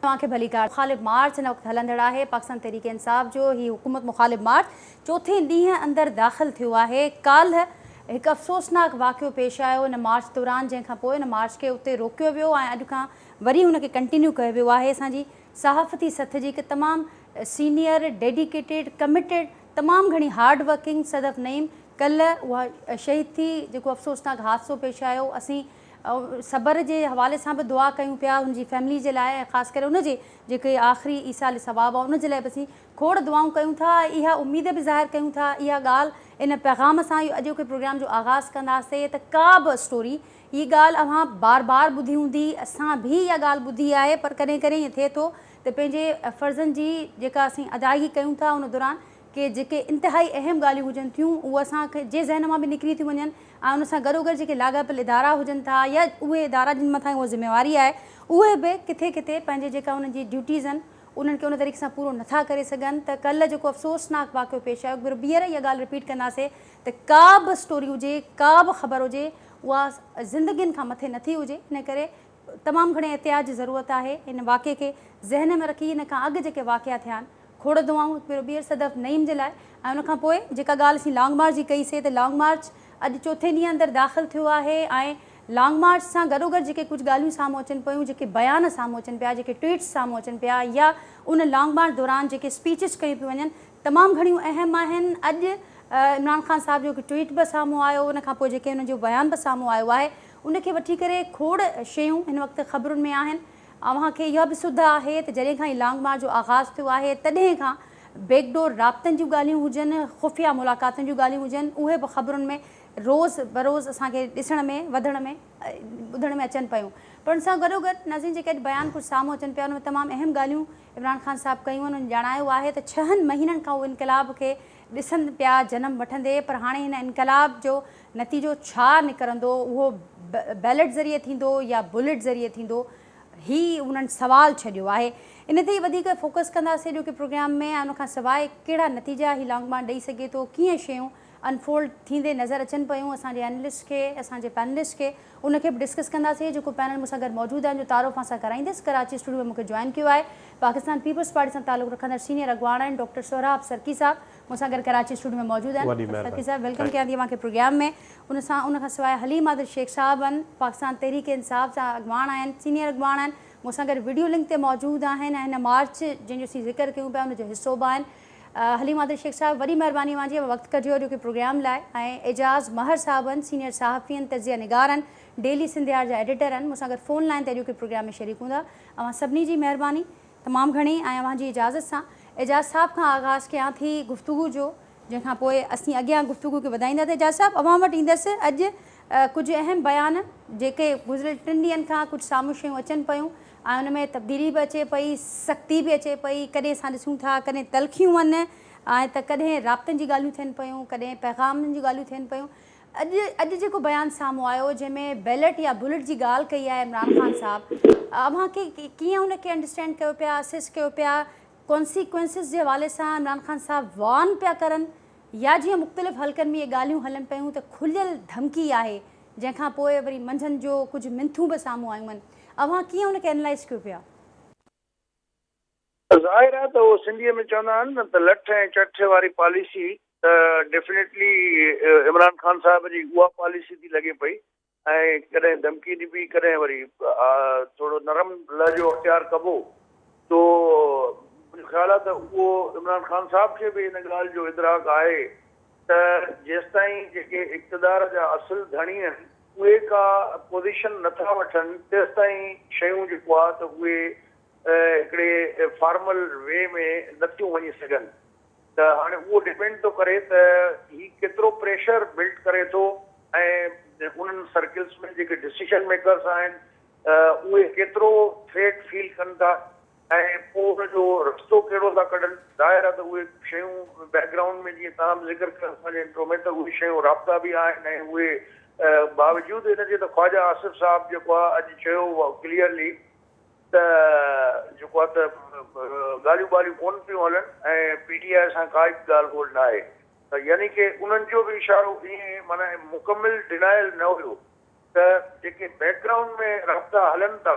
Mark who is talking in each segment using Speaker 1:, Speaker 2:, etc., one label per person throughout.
Speaker 1: توهان کي ڀليڪار. مخالف مارچ هن وقت هلندڙ آهي پاڪستان تحريڪ انصاف جو هي حڪومت مخالف مارچ چوٿين ڏينهن اندر داخل ٿيو آهي ڪالهه هڪ افسوسناڪ واقعو پيش آيو ان مارچ دوران جنهن کان پوء ان مارچ کي اتي روڪيو ويو ۽ اڄ کان وري ان کي ڪنٽينيو ڪيو ويو آهي اسان جي صحافتي سٿ جي هڪ تمام سينيئر ڊيڊيڪيٽيڊ ڪمٽيڊ تمام گهڻي هارڊ ورڪنگ صدف نعيم ڪلهه اها شهيد ٿي جيڪو افسوسناڪ حادثو پيش آيو اسين صبر جي حوالي سان به دعا ڪيون پيا ان جي فيملي جي لاء ۽ خاص ڪري ان جي جيڪي آخري ايصال ثواب آ ان جي لاء به اسين کوڙ دعائون ڪيون ٿا ۽ اها اميد به ظاهر ڪيون ٿا اها ڳالهه ان پيغام سان اهو اڄوڪي پروگرام جو آغاز ڪنداسي ته ڪا به اسٽوري هي ڳالهه اوهان بار بار ٻڌي هوندي اسان به اها ڳالهه ٻڌي آهي پر ڪڏهن ڪڏهن ائين ٿئي ٿو ته پنهنجي فرضن جي جيڪا اسين ادائگي ڪيون ٿا ان دوران ڪي جيڪي انتهائي اهم ڳالهيون هجن ٿيون اهي اسان جي ذهن مان به نڪري ٿيون وڃن ۽ ان سان گڏوگڏ جيڪي لاڳاپيل ادارا هجن ٿا يا اهي ادارا جن مٿان اها ذميواري آهي اهي به ڪٿي ڪٿي پنهنجي جيڪا انهن جي ڊيوٽيز آهن انهن کي ان طريقي سان پورو نٿا ڪري سگهن ته ڪلهه جيڪو افسوسناڪ واقعو پيش آيو وري ٻيهر اها ڳالهه رپيٽ ڪنداسي ته ڪا به اسٽوري هجي ڪا به خبر هجي اها زندگين کان مٿي نٿي هجي ان ڪري تمام گهڻي احتياط جي ضرورت آهي ان واقعي کي ذهن ۾ رکي ان کان اڳ جيڪي واقعا ٿيا آهن کوڙ دعائون پھريون ٻيھر صدف نعيم جي لاء ۽ ان کان پوء جيڪا ڳالھ اسين لانگ مارچ جي ڪئي سي ته لانگ مارچ اڄ چوٿين ڏينھن اندر داخل ٿيو آھي ۽ لانگ مارچ سان گڏوگڏ جيڪي ڪجھ ڳالھيون سامھون اچن پيون جيڪي بيان سامھون اچن پيا جيڪي ٽوئيٽس سامھون اچن پيا يا ان لانگ مارچ دوران جيڪي اسپيچز ڪيون پيون وڃن تمام گھڻيون اھم آھن اڄ عمران خان صاحب جو ھڪ ٽوئيٽ به سامھون آيو ان کان پوء جيڪي ان جو بيان به سامھون آيو آھي ان کي وٺي ڪري کوڙ شيون ھن وقت خبرن ۾ آھن. اوهان کي اها به سڌ آهي ته جڏهن کان هي لانگ مارچ جو آغاز ٿيو آهي تڏهن کان بيڪ ڊور رابطن جون ڳالهيون هجن، خفيه ملاقاتن جون ڳالهيون هجن اهي به خبرن ۾ روز بروز اسان کي ڏسڻ ۾ وڌڻ ۾ ٻڌڻ ۾ اچن پيون پر ان سان گڏوگڏ ناظرين جيڪي اڄ بيان ڪجهه سامهون اچن پيا ان ۾ تمام اهم ڳالهيون عمران خان صاحب ڪيون آهن هن ڄاڻايو آهي ته ڇهن مهينن کان هو انقلاب کي ڏسن پيا جنم وٺندي پر هاڻي هن انقلاب جو نتيجو ڇا نڪرندو اهو بيلٽ ذريعي ٿيندو يا بلٽ ذريعي ٿيندو هي انهن سوال ڇڏيو آهي ان تي ئي وڌيڪ فوڪس ڪنداسين اڄوڪي پروگرام ۾ ۽ ان کان سواء ڪهڙا نتيجا هي لانگ مارچ ڏئي سگهي ٿو ڪيئن شيون انفولڊ ٿيندي نظر اچن پيون اسان جي اينلسٽ کي اسان جي پينلسٽ کي ان کي به ڊسڪس ڪنداسين جيڪو پينل مون سان گڏ موجود آهن جو تعارف اوهان سان ڪرائيندس ڪراچي اسٽوڊيو ۾ مون کي جوائن ڪيو آهي پاڪستان پيپلز پارٽي سان تعلق رکندڙ سينيئر اڳواڻ آهن ڊاڪٽر سهراب سرڪي صاحب مون سان گڏ ڪراچي اسٽوڊيو ۾ موجود آهن وڏي مهرباني سرڪي صاحب ويلڪم ڪيان ٿي اوهان کي پروگرام ۾ ان سان ان کان سواء حليم عادل شيخ صاحب آهن پاڪستان تحريڪ انصاف جا اڳواڻ آهن سينيئر اڳواڻ آهن مون سان گڏ وڊيو لنڪ تي موجود آهن ۽ هن مارچ جنهن جو اسين ذڪر ڪيون پيا ان جو حصو به آهن حليم عادل شيخ صاحب وڏي مهرباني اوهان جي وقت ڪڍيو اڄو کي پروگرام لاء ۽ اعجاز مهر صاحب آهن سينيئر صحافي آهن تجزيه نگار آهن ڊيلي سنڌيار جا ايڊيٽر آهن مون سان گڏ فون لائين تي اڄو کي پروگرام ۾ شريڪ هوندا اوهان سڀني جي مهرباني تمام گهڻي ۽ اوهان جي اجازت سان اعجاز صاحب کان آغاز ڪيان ٿي گفتگو جو جنهن کان پوء اسين اڳيان گفتگو کي وڌائيندا ته اعجاز صاحب اوهان وٽ ايندس اڄ ڪجهه اهم بيان جيڪي گذريل ٽن ڏينهن کان ڪجهه سامهون شيون اچن پيون ۽ ان ۾ تبديلي به اچي پئي سختي به اچي پئي ڪڏهن اسان ڏسون ٿا ڪڏهن تلخيون ان ۽ ته ڪڏهن رابطن جي ڳالهيون ٿين پيون ڪڏهن پيغامن جون ڳالهيون ٿين پيون اڄ اڄ جيڪو بيان سامهون آيو جنهن ۾ بيلٽ يا بلٽ جي ڳالهه ڪئي آهي عمران خان صاحب اوهان ڪي ڪيئن ان کي انڊرسٽينڊ ڪيو پيا اسيس ڪيو پيا ڪونسيڪوينسز جي حوالي سان عمران خان صاحب وارن پيا ڪرن يا جيئن مختلف حلقن ۾ اهي ڳالهيون هلن پيون ته کليل ڌمڪي آهي جنهن کان پوء وري منجهند جو ڪجهه منٿون به سامهون آيون آهن اوهان ڪيئن ان کي اينلائز ڪيو پيا.
Speaker 2: ظاهر آهي ته هو سنڌيء ۾ چوندا آهن نه ته لٺ ۽ چٺ واري پاليسي ته ڊيفنيٽلي عمران خان صاحب جي اها پاليسي ٿي لڳي پئي ۽ ڪڏهن ڌمڪي ڏبي ڪڏهن وري ٿورو نرم لهجو اختيار ڪبو سو منهنجو خيال آهي ته اهو عمران خان صاحب کي به ان ڳالهه جو ادراڪ آهي ته جيستائين جيڪي اقتدار جا اصل ڌڻي آهن اهي ڪا پوزيشن نٿا وٺن تيستائين شيون جيڪو آهي ته اهي هڪڙي فارمل وي ۾ نه ٿيون وڃي سگهن ته هاڻي اهو ڊپينڊ ٿو ڪري ته هي ڪيترو پريشر بلڊ ڪري ٿو ۽ انهن سرڪلز ۾ جيڪي ڊسيشن ميڪرز آهن اهي ڪيترو ٿريٽ فيل ڪن ٿا ۽ پوء ان جو رستو ڪهڙو ٿا ڪڍن. ظاهر آهي ته اهي شيون بيڪ گرائونڊ ۾ جيئن توهان به ذڪر ڪيو پنهنجي انٽرو ۾ ته اهي شيون رابطا به آهن ۽ اهي باوجود ان جي ته خواجه آصف صاحب جيڪو آهي اڄ چيو هو ڪليئرلي ته جيڪو آهي ته ڳالهيون ٻالهيون ڪونه پيون هلن ۽ پي ٽي آء سان ڪا ئي ڳالهه ٻولهه نه آهي ته يعني ڪي انهن جو به اشارو ائين معنيٰ مڪمل ڊينائل نه هيو ته جيڪي بيڪ گرائونڊ ۾ رابطا هلن ٿا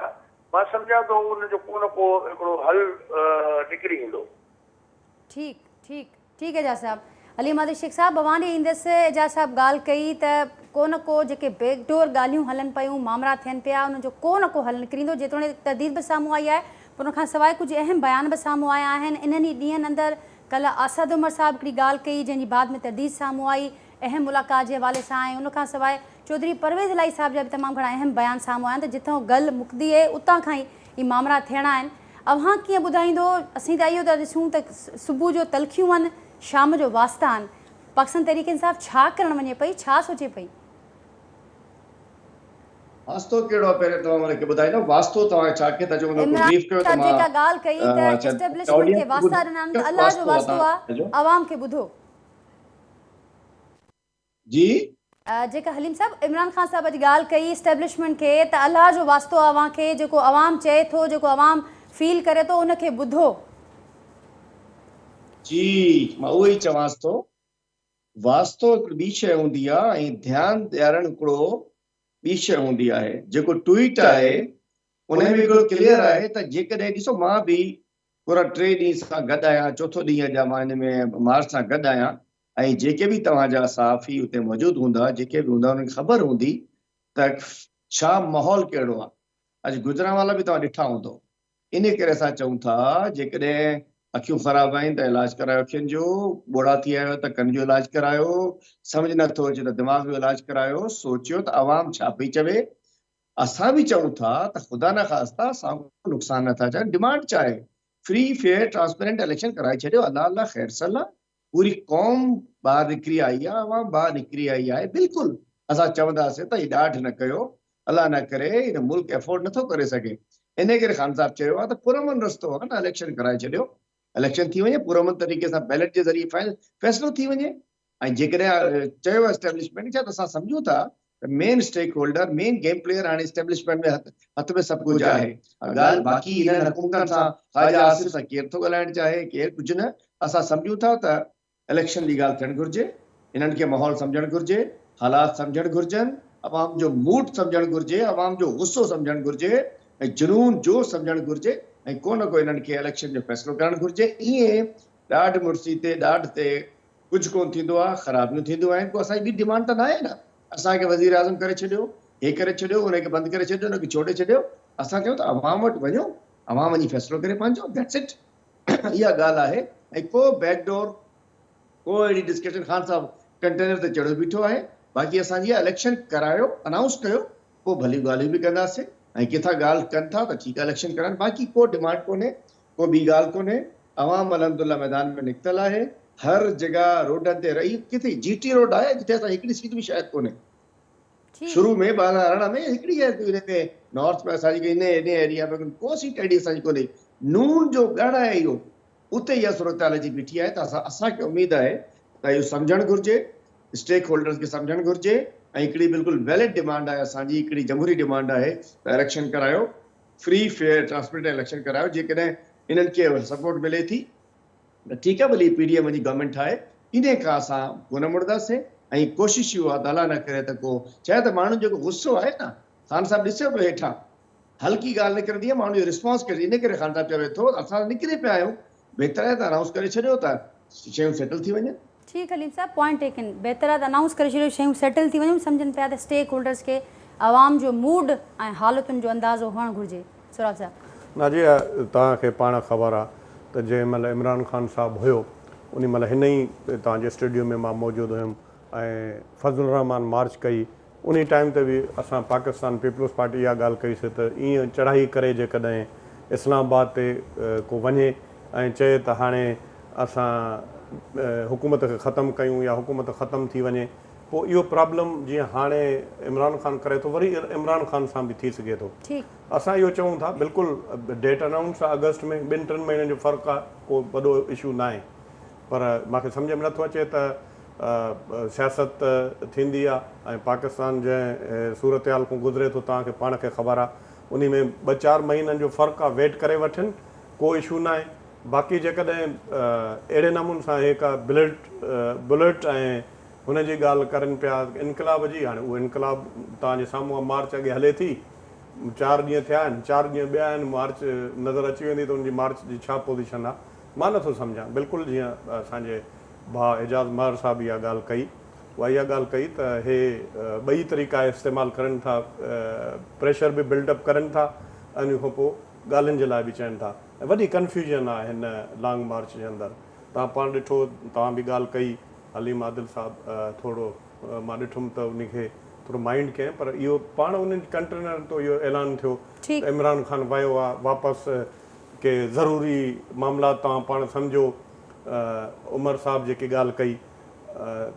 Speaker 2: مان سمجهان ٿو ان جو ڪو نه ڪو هڪڙو حل نڪري ايندو. ٺيڪ ٺيڪ
Speaker 1: ٺيڪ اعجاز صاحب. علي مادري شيخ صاحب اوهان ڏي ايندس اعجاز صاحب ڳالهه ڪئي ته ڪو نه ڪو جيڪي بيڪ ڊور ڳالهيون هلن پيون مامرا ٿين پيا انهن جو ڪو نه ڪو حل نڪريندو جيتوڻيڪ ترديد به سامهون آئي آهي پر ان کان سواء ڪجهه اهم بيان به سامهون آيا آهن انهن ئي ڏينهن اندر ڪلهه آساد عمر صاحب هڪڙي ڳالهه ڪئي جنهن جي بعد ۾ ترديد سامهون آئي اهم ملاقات جي حوالي سان ۽ ان کان سواء چوڌري پرويز الاهي صاحب جا به تمام گهڻا اهم بيان سامهون آيا آهن ته جتئون گل مڪدي اهي اتان کان ئي مامرا ٿيڻا آهن اوهان ڪيئن ٻڌائيندو اسين ته اهو ٿا ڏسون ته صبح جو تلخيون آهن شام جو واسطا آهن پاڪستان تحريڪ انصاف ڇا ڪرڻ وڃي پئي ڇا سوچي پئي. واسطو
Speaker 3: ڪهڙو آهي پهرين توهان مون کي ٻڌائيندا واسطو توهان کي ڇا کي ٿا چئون ان کي بريف ڪيو ته مان عمران صاحب جيڪا ڳالهه ڪئي ته
Speaker 1: اسٽيبلشمينٽ کي واسطا ڏنا آهن ته الله جو واسطو آهي عوام کي ٻڌو.
Speaker 3: جي. جيڪا
Speaker 1: حليم صاحب عمران خان صاحب اڄ ڳالهه ڪئي اسٽيبلشمينٽ کي ته الله جو واسطو اوهان کي جيڪو عوام چئي ٿو جيڪو عوام فيل ڪري ٿو ان کي ٻڌو.
Speaker 3: جي مان اهو ئي چوانس ٿو واسطو هڪڙي ٻي شئي هوندي آهي ۽ ڌيان ڏيارڻ هڪڙو ٻي شئي هوندي آهي جيڪو ٽوئيٽ آهي ان ۾ هڪڙو ڪليئر آهي ته جيڪڏهن ڏسو مان به پورا ٽي ڏينهن سان گڏ آهيان، چوٿو ڏينهن اڄ آهي، مان هن ۾ مارچ سان گڏ آهيان ۽ جيڪي به توهان جا صحافي اتي موجود هوندا، جيڪي به هوندا انهن کي خبر هوندي ته ڇا ماحول ڪهڙو آهي، اڄ گوجرانوالا به توهان ڏٺا هوندو، انهي ڪري اسان چئون ٿا جيڪڏهن اکيون خراب آهن ته علاج ڪرايو اکين جو، ٻوڙا ٿي آهيو ته ڪن جو علاج ڪرايو، سمجهه نه ٿو اچي ته دماغ جو علاج ڪرايو، سوچيو ته عوام ڇا پئي چوي، اسان به چئون ٿا ته خدا نخواسته اسان ڪو نقصان نه ٿا چاهيون ڊمانڊ ڇا آهي فري فيئر ٽرانسپيرنٽ اليڪشن ڪرائي ڇڏيو الله الله خير صلح پوري قوم ٻاهر نڪري آئي آهي عوام ٻاهر نڪري آئي آهي بلڪل اسان چونداسين ته هي ڏاڍ نه ڪيو الله نه ڪري هن ملڪ افورڊ نه ٿو ڪري سگهي انهي ڪري خان صاحب چيو آهي ته پرامن رستو آهي نه اليڪشن ڪرائي ڇڏيو اليڪشن ٿي وڃي پرامن طريقي سان بيلٽ جي ذريعي فيصلو ٿي وڃي ۽ جيڪڏهن چيو اسٽيبلشمينٽ ڇا ته اسان سمجهون ٿا ته main stakeholder, main game player هاڻي اسٽيبلشمينٽ جي هٿ ۾ سڀ ڪجهه آهي. اها ڳالهه باقي انهن حڪومتن سان خواجه آصف سان ڪير ٿو ڳالهائڻ چاهي، ڪير ڪجهه نه. اسان سمجهون ٿا ته اليڪشن جي ڳالهه ٿيڻ گهرجي، انهن کي ماحول سمجهڻ گهرجي، حالات سمجهڻ گهرجن، عوام جو موڊ سمجهڻ گهرجي، عوام جو غصو سمجهڻ گهرجي ۽ جنون جوش سمجهڻ گهرجي ۽ ڪو نه ڪو انهن کي اليڪشن جو فيصلو ڪرڻ گهرجي. ائين ڏاڍ مڙسي تي ڏاڍ تي ڪجهه ڪونه ٿيندو آهي خرابيون ٿينديون آهن ڪو اسان جي ٻي ڊمانڊ ته ناهي نه اسان کي وزيراعظم ڪري ڇڏيو هي ڪري ڇڏيو ان کي بند ڪري ڇڏيو ان کي ڇوڙي ڇڏيو اسان چيو ته عوام وٽ وڃو عوام وڃي فيصلو ڪري پنهنجو ڌيٽس اٽ اها ڳالهه آهي ۽ ڪو بيڪ ڊور ڪو اهڙي ڊسڪشن خان صاحب ڪنٽينر تي چڙهيو بيٺو آهي باقي اسان جي اليڪشن ڪرايو انائونس ڪيو پوء ڀليون ڳالهيون به ڪنداسين ۽ ڪٿا ڳالهه ڪن ٿا ته ٺيڪ آهي اليڪشن ڪرائن باقي ڪو ڊمانڊ ڪونهي ڪو ٻي ڳالهه ڪونهي عوام الحمد الله ميدان ۾ نڪتل آهي هر جڳهه روڊن تي رهي ڪٿي جي ٽي روڊ آهي جتي اسان هڪڙي سيٽ به شايد ڪونهي شروع ۾ ٻه هزار ارڙهن ۾ هڪڙي شايد ڪونهي هتي نارٿ ۾ اسان جي انهي انهي ايريا ۾ ڪو سيٽ اهڙي اسان جي ڪونهي نون جو ڳڙهه آهي اهو اتي اها صورتحال اچي بيٺي آهي ته اسان اسان کي اميد آهي ته اهو سمجهڻ گهرجي اسٽيڪ هولڊرز کي سمجهڻ گهرجي ۽ هڪڙي بلڪل ويلڊ ڊيمانڊ آهي اسان جي هڪڙي جمهوري ڊيمانڊ آهي ته اليڪشن ڪرايو فري فيئر ٽرانسپرينٽ ۽ اليڪشن ڪرايو جيڪڏهن انهن کي سپورٽ ملي ٿي ته ٺيڪ آ ڀلي پي ڊي ايم وڃي گورنمينٽ ٺاهي ايندي کان اسان ڪونه مڙداسين ۽ ڪوشش اهو آ ته الله نه ڪري ته ڪو ڇاهي ته ماڻهن جيڪو غصو آهي نه خان صاحب ڏسيو پيو هيٺان هلڪي ڳالهه نڪرندي آ ماڻهن جو رسپانس ڪيڙي ان ڪري خان صاحب چوي ٿو اسان نڪري پيا آهيون بهتر آهي ته انائونس ڪري ڇڏيو ته شيون سيٽل ٿي وڃن. جي خليل صاحب پوائنٽ
Speaker 1: ٽيڪن بهتر آهي ته انائونس ڪري ڇڏيو شيون سيٽل ٿي وڃن سمجهن پيا ته اسٽيڪ هولڊرز کي عوام جو موڊ ۽ حالتن جو اندازو هئڻ گهرجي سهراب صاحب. ناجي توهان
Speaker 4: کي پاڻ خبر آ ته جنهن مهل عمران خان صاحب هيو انهي مهل هن ئي توهان جي اسٽيڊيو ۾ مان موجود هيم ۽ فضل الرحمان مارچ ڪئي انهي ٽائيم تي به اسان پاڪستان پيپلز پارٽي اها ڳالهه ڪئي سي ته ايئن چڙهائي ڪري جيڪڏهن اسلام آباد تي ڪو وڃي ۽ چئي ته هاڻي اسان حڪومت کي ختم ڪيون يا حڪومت ختم ٿي وڃي پوء اهو پرابلم جيئن هاڻي عمران خان ڪري ٿو وري عمران خان سان به ٿي سگهي ٿو اسان اهو چئون ٿا بلڪل ڊيٽ انائونس آهي آگسٽ ۾ ٻن ٽن مهينن جو فرق آهي ڪو وڏو اشو ناهي پر مان کي سمجهه ۾ نٿو اچي ته سياست ٿيندي آ ۽ پاڪستان جنهن صورتحال کون گذري ٿو توهان کي پاڻ کي خبر آ انهي ۾ ٻه چار مهينن جو فرق آ ويٽ ڪري وٺن ڪو اشو ناهي باقي جيڪڏهن اهڙي نمون سان اهي ڪا بلٽ بلٽ ۽ هن جي ڳالهه ڪرن پيا انقلاب جي هاڻي اهو انقلاب توهان جي سامهون آ مارچ اڳي هلي ٿي چار ڏينهن ٿيا آهن چار ڏينهن ٻيا آهن مارچ نظر اچي ويندي ته ان جي مارچ جي ڇا پوزيشن آ مان نه ٿو سمجهان بلڪل جيئن اسان جي ڀاء اعجاز مهر صاحب اها ڳالهه ڪئي اها اها ڳالهه ڪئي ته هي ٻئي طريقا استعمال ڪرن ٿا پريشر به بلڊ اپ ڪرن ٿا ۽ ان کان پوء ڳالهين جي لاء به چون ٿا ۽ وڏي ڪنفيوزن آهي هن لانگ مارچ جي اندر توهان پاڻ ڏٺو توهان به ڳالهه ڪئي حليم عادل صاحب ٿورو مان ڏٺم ته ان کي ٿورو مائنڊ ڪئين پر اهو پاڻ انهن ڪنٽرنر تو اهو اعلان ٿيو ته عمران خان ويو آهي واپس ڪي ضروري معاملات توهان پاڻ سمجهو عمر صاحب جيڪي ڳالهه ڪئي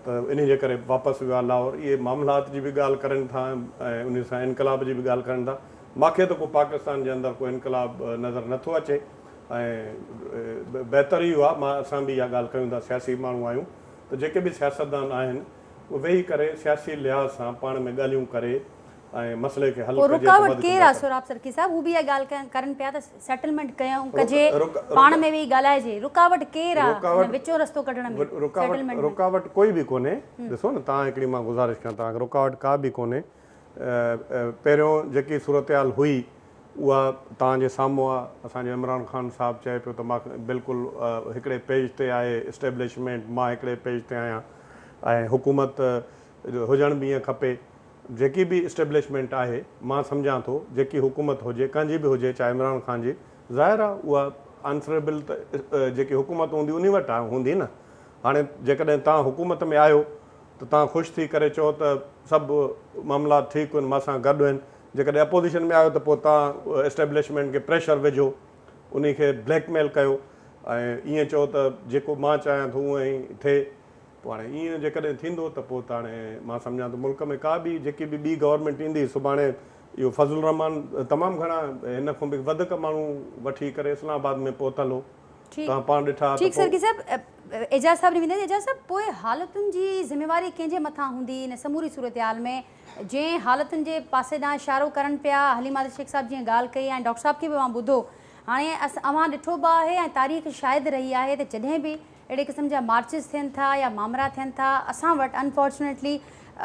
Speaker 4: ته انهي جي ڪري واپس ويو آهي لاهور اهي معاملات جي به ڳالهه ڪرين ٿا ۽ انهي سان انقلاب جي به ڳالهه ڪرين ٿا ماکي ته ڪو پاڪستان جي اندر ڪو انقلاب نظر نه ٿو اچي ۽ بهتر ئي اهو آهي اسان به اها ڳالهه ڪيون ٿا سياسي ماڻهو آهيون ته جيڪي به سياستدان آهن اهي ويهي ڪري سياسي لحاظ سان پاڻ ۾ ڳالهيون ڪري ۽ مسئلي کي حل ڪجي ته وڌ ٿيندو ڪم. پوء رڪاوٽ ڪير آ سهراب
Speaker 1: سرڪي صاحب؟ هو به اها ڳالهه ڪرن پيا ته سيٽلمينٽ ڪيون ڪجي پاڻ ۾ ويهي ڳالهائجي رڪاوٽ ڪير آ هن وچون رستو ڪڍڻ ۾ سيٽلمينٽ ۾؟ رڪاوٽ ڪوئي به
Speaker 4: ڪونهي ڏسو نه تان هڪڙي مان گذارش ڪيان تان رڪاوٽ ڪا به ڪونهي پهريون جيڪي صورتحال هئي اها تان جي سامهون آ اسان جو عمران خان صاحب چئي پيو ته مان بلڪل هڪڙي پيج تي آهي اسٽيبلشمينٽ مان هڪڙي پيج تي آهيان ۽ حڪومت هجڻ به ائين کپي جيڪي به اسٽيبلشمينٽ آهي مان سمجهان ٿو جيڪي حڪومت هجي ڪنهن جي به هجي چاهي عمران خان جي ظاهر آ اها آنسريبل ته جيڪي حڪومت هوندي انهي وٽ هوندي نه هاڻي جيڪڏهن توهان حڪومت ۾ آهيو ته توهان خوش ٿي ڪري چئو ته سڀ معاملات ٺيڪ هن مان سان گڏ هن جيڪڏهن اپوزيشن ۾ آهيو ته پوء توهان اسٽيبلشمينٽ کي پريشر وجهو انهي کي بليڪ ميل ڪيو ۽ ائين چئو ته جيڪو مان چاهيان ٿو اونهي ٿئي پوء هاڻي ائين جيڪڏهن ٿيندو ته پوء ته هاڻي مان سمجهان ٿو ملڪ ۾ ڪا به جيڪي به ٻي گورنمينٽ ايندي سڀاڻي اهو فضل الرحمان تمام گهڻا هن کان به وڌڪ ماڻهو وٺي ڪري اسلام آباد ۾ پهتل هو توهان پاڻ ڏٺا ته پوء
Speaker 1: اعجاز صاحب ڏي ويندي ته اعجاز صاحب پوء حالتن جي ذميواري ڪنهن جي مٿان هوندي ان سموري صورتحال ۾ جنهن حالتن جي پاسي ڏانهن اشارو ڪرن پيا حليم عادل شيخ صاحب جيئن ڳالهه ڪئي ۽ ڊاڪٽر صاحب کي به اوهان ٻڌو هاڻي اوهان ڏٺو به آهي ۽ تاريخ شاهد رهي آهي ته جڏهن به اهڙي قسم جا مارچز ٿين ٿا يا مامرا ٿين ٿا اسان وٽ انفارچونيٽلي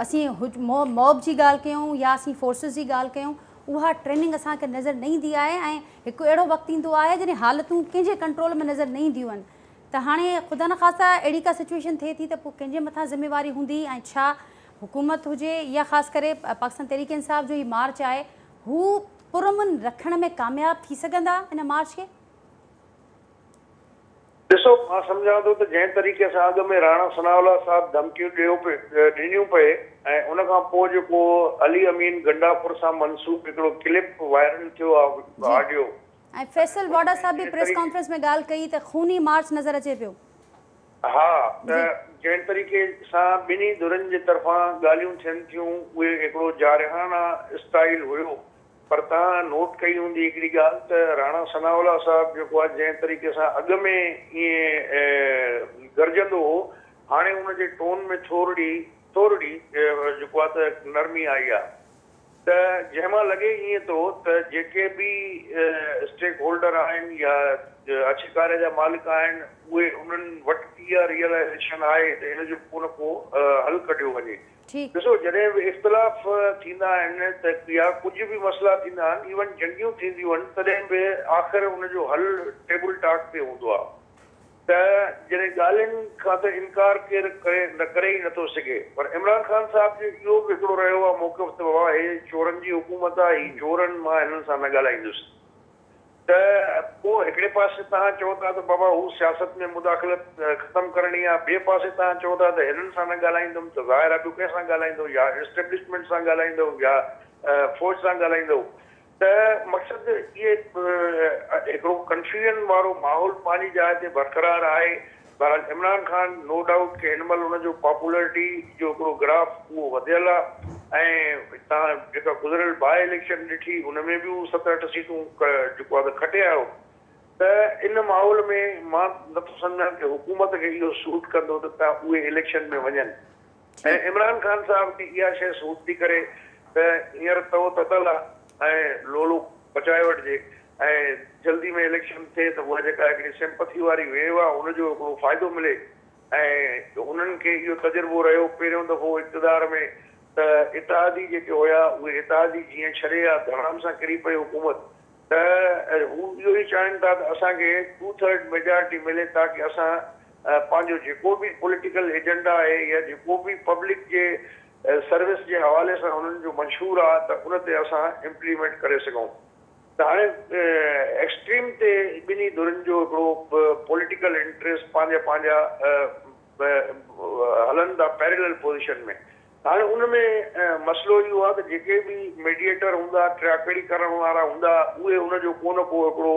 Speaker 1: اسين موب جي ڳالهه ڪيون يا اسين فورسز جي ڳالهه ڪيون اها ٽريننگ اسان کي نظر نه ايندي آهي ۽ هڪ اهڙو وقت ايندو آهي جڏهن حالتون ڪنهن جي ڪنٽرول ۾ نظر نه اينديون آهن ته هاڻي خدا نخواسته اهڙي ڪا سچويشن ٿئي ٿي ته پوء ڪنهن جي مٿان ذميواري هوندي ۽ ڇا حڪومت هجي يا خاص ڪري پاڪستان تحريڪ انصاف جو هي مارچ آهي هو پرامن رکڻ ۾ ڪامياب ٿي سگهندا ان مارچ کي؟
Speaker 2: ڏسو مان سمجهان ٿو ته جنهن طريقي سان اڳ ۾ راڻا ثناء الله صاحب ڌمڪيون ڏيو پي ڏنيون پئي ۽ ان کان پوء جيڪو علي امين گنڊاپور سان منسوب هڪڙو ڪلپ وائرل ٿيو آ جي آڊيو ۽ فيصل
Speaker 1: واڊا صاحب به پريس ڪانفرنس ۾ ڳالهه ڪئي ته خوني مارچ نظر اچي پيو. ها
Speaker 2: ته جنهن طريقي سان ٻنهي ڌرين جي طرفان ڳالهيون ٿين ٿيون اهي هڪڙو جارحانه اسٽائيل هيو پر توهان نوٽ ڪئي هوندي هڪڙي ڳالهه ته راڻا ثناء الله صاحب جيڪو آ جنهن طريقي سان اڳ ۾ ائين گرجندو هو هاڻي ان جي ٽون ۾ ٿورڙي ٿورڙي جيڪو آ ته نرمي آئي آ ته جنهن مان لڳي ائين ٿو ته جيڪي به اسٽيڪ هولڊر آهن يا اڇڪاري جا مالڪ آهن اهي انهن وٽ به اها ريئلائيزيشن آهي ته ان جو ڪو نه ڪو حل ڪڍيو وڃي. ٺيڪ. ڏسو جڏهن به اختلاف ٿيندا آهن ته يا ڪجهه به مسئلا ٿيندا آهن ايون جنگيون ٿينديون آهن تڏهن به آخر ان جو حل ٽيبل ٽاڪ تي هوندو آهي ته جڏهن ڳالهين کان ته انڪار ڪير ڪري ڪري ئي نٿو سگهي پر عمران خان صاحب جو اهو به هڪڙو رهيو آهي موقف ته بابا هي چورن جي حڪومت آهي هي چورن مان هنن سان نه ڳالهائيندس ته پوء هڪڙي پاسي توهان چئو ٿا ته بابا هو سياست ۾ مداخلت ختم ڪرڻي آهي، ٻئي پاسي توهان چئو ٿا ته هنن سان نه ڳالهائيندم ته ظاهر آهي ٻيو ڪنهن سان ڳالهائيندو يا اسٽيبلشمينٽ سان ڳالهائيندو يا فوج سان ڳالهائيندو ته مقصد اهي هڪڙو ڪنفيوزن وارو ماحول پنهنجي جاء تي برقرار آهي. بهرحال عمران خان نو ڊائوٽ ڪي هن مهل ان جو پاپولرٽي جو هڪڙو گراف اهو وڌيل آ ۽ تان جيڪا گذريل باء اليڪشن ڏٺي ان ۾ به هو ست اٺ سيٽون جيڪو آ ته کٽي آيو ته ان ماحول ۾ مان نٿو سمجهان ڪي حڪومت کي اهو سوٽ ڪندو ته اهي اليڪشن ۾ وڃن. ۽ عمران خان صاحب کي اها شيء سوٽ ٿي ڪري ته هينئر تئو تتل آ ۽ لولو پچائي وٺجي ۽ جلدي ۾ اليڪشن ٿئي ته اها جيڪا هڪڙي سيمپٿي واري ويو آ ان جو هڪڙو فائدو ملي ۽ هنن کي اهو تجربو رهيو پهريون دفعو اقتدار ۾ ته اتحادي جيڪي هيا اهي اتحادي جيئن ڇڏي آ ڌڙام سان ڪري پئي حڪومت ته هو اهو ئي چاهين ٿا ته اسان کي ٽو ٿرڊ ميجارٽي ملي تاڪه اسان پنهنجو جيڪو به پوليٽيڪل ايجنڊا آهي يا جيڪو به پبلڪ جي سروس جي حوالي سان انهن جو منشور آهي ته ان تي اسان امپليمينٽ ڪري سگهون ته هاڻي ايڪسٽريم تي ٻنهي ڌرين جو هڪڙو پوليٽيڪل انٽريسٽ پنهنجا پنهنجا به هلن ٿا پيرلل پوزيشن ۾. هاڻي ان ۾ مسئلو اهو آهي ته جيڪي به ميڊيئيٽر هوندا، ٽياڪڙي ڪرڻ وارا هوندا، اهي ان جو ڪو نه ڪو هڪڙو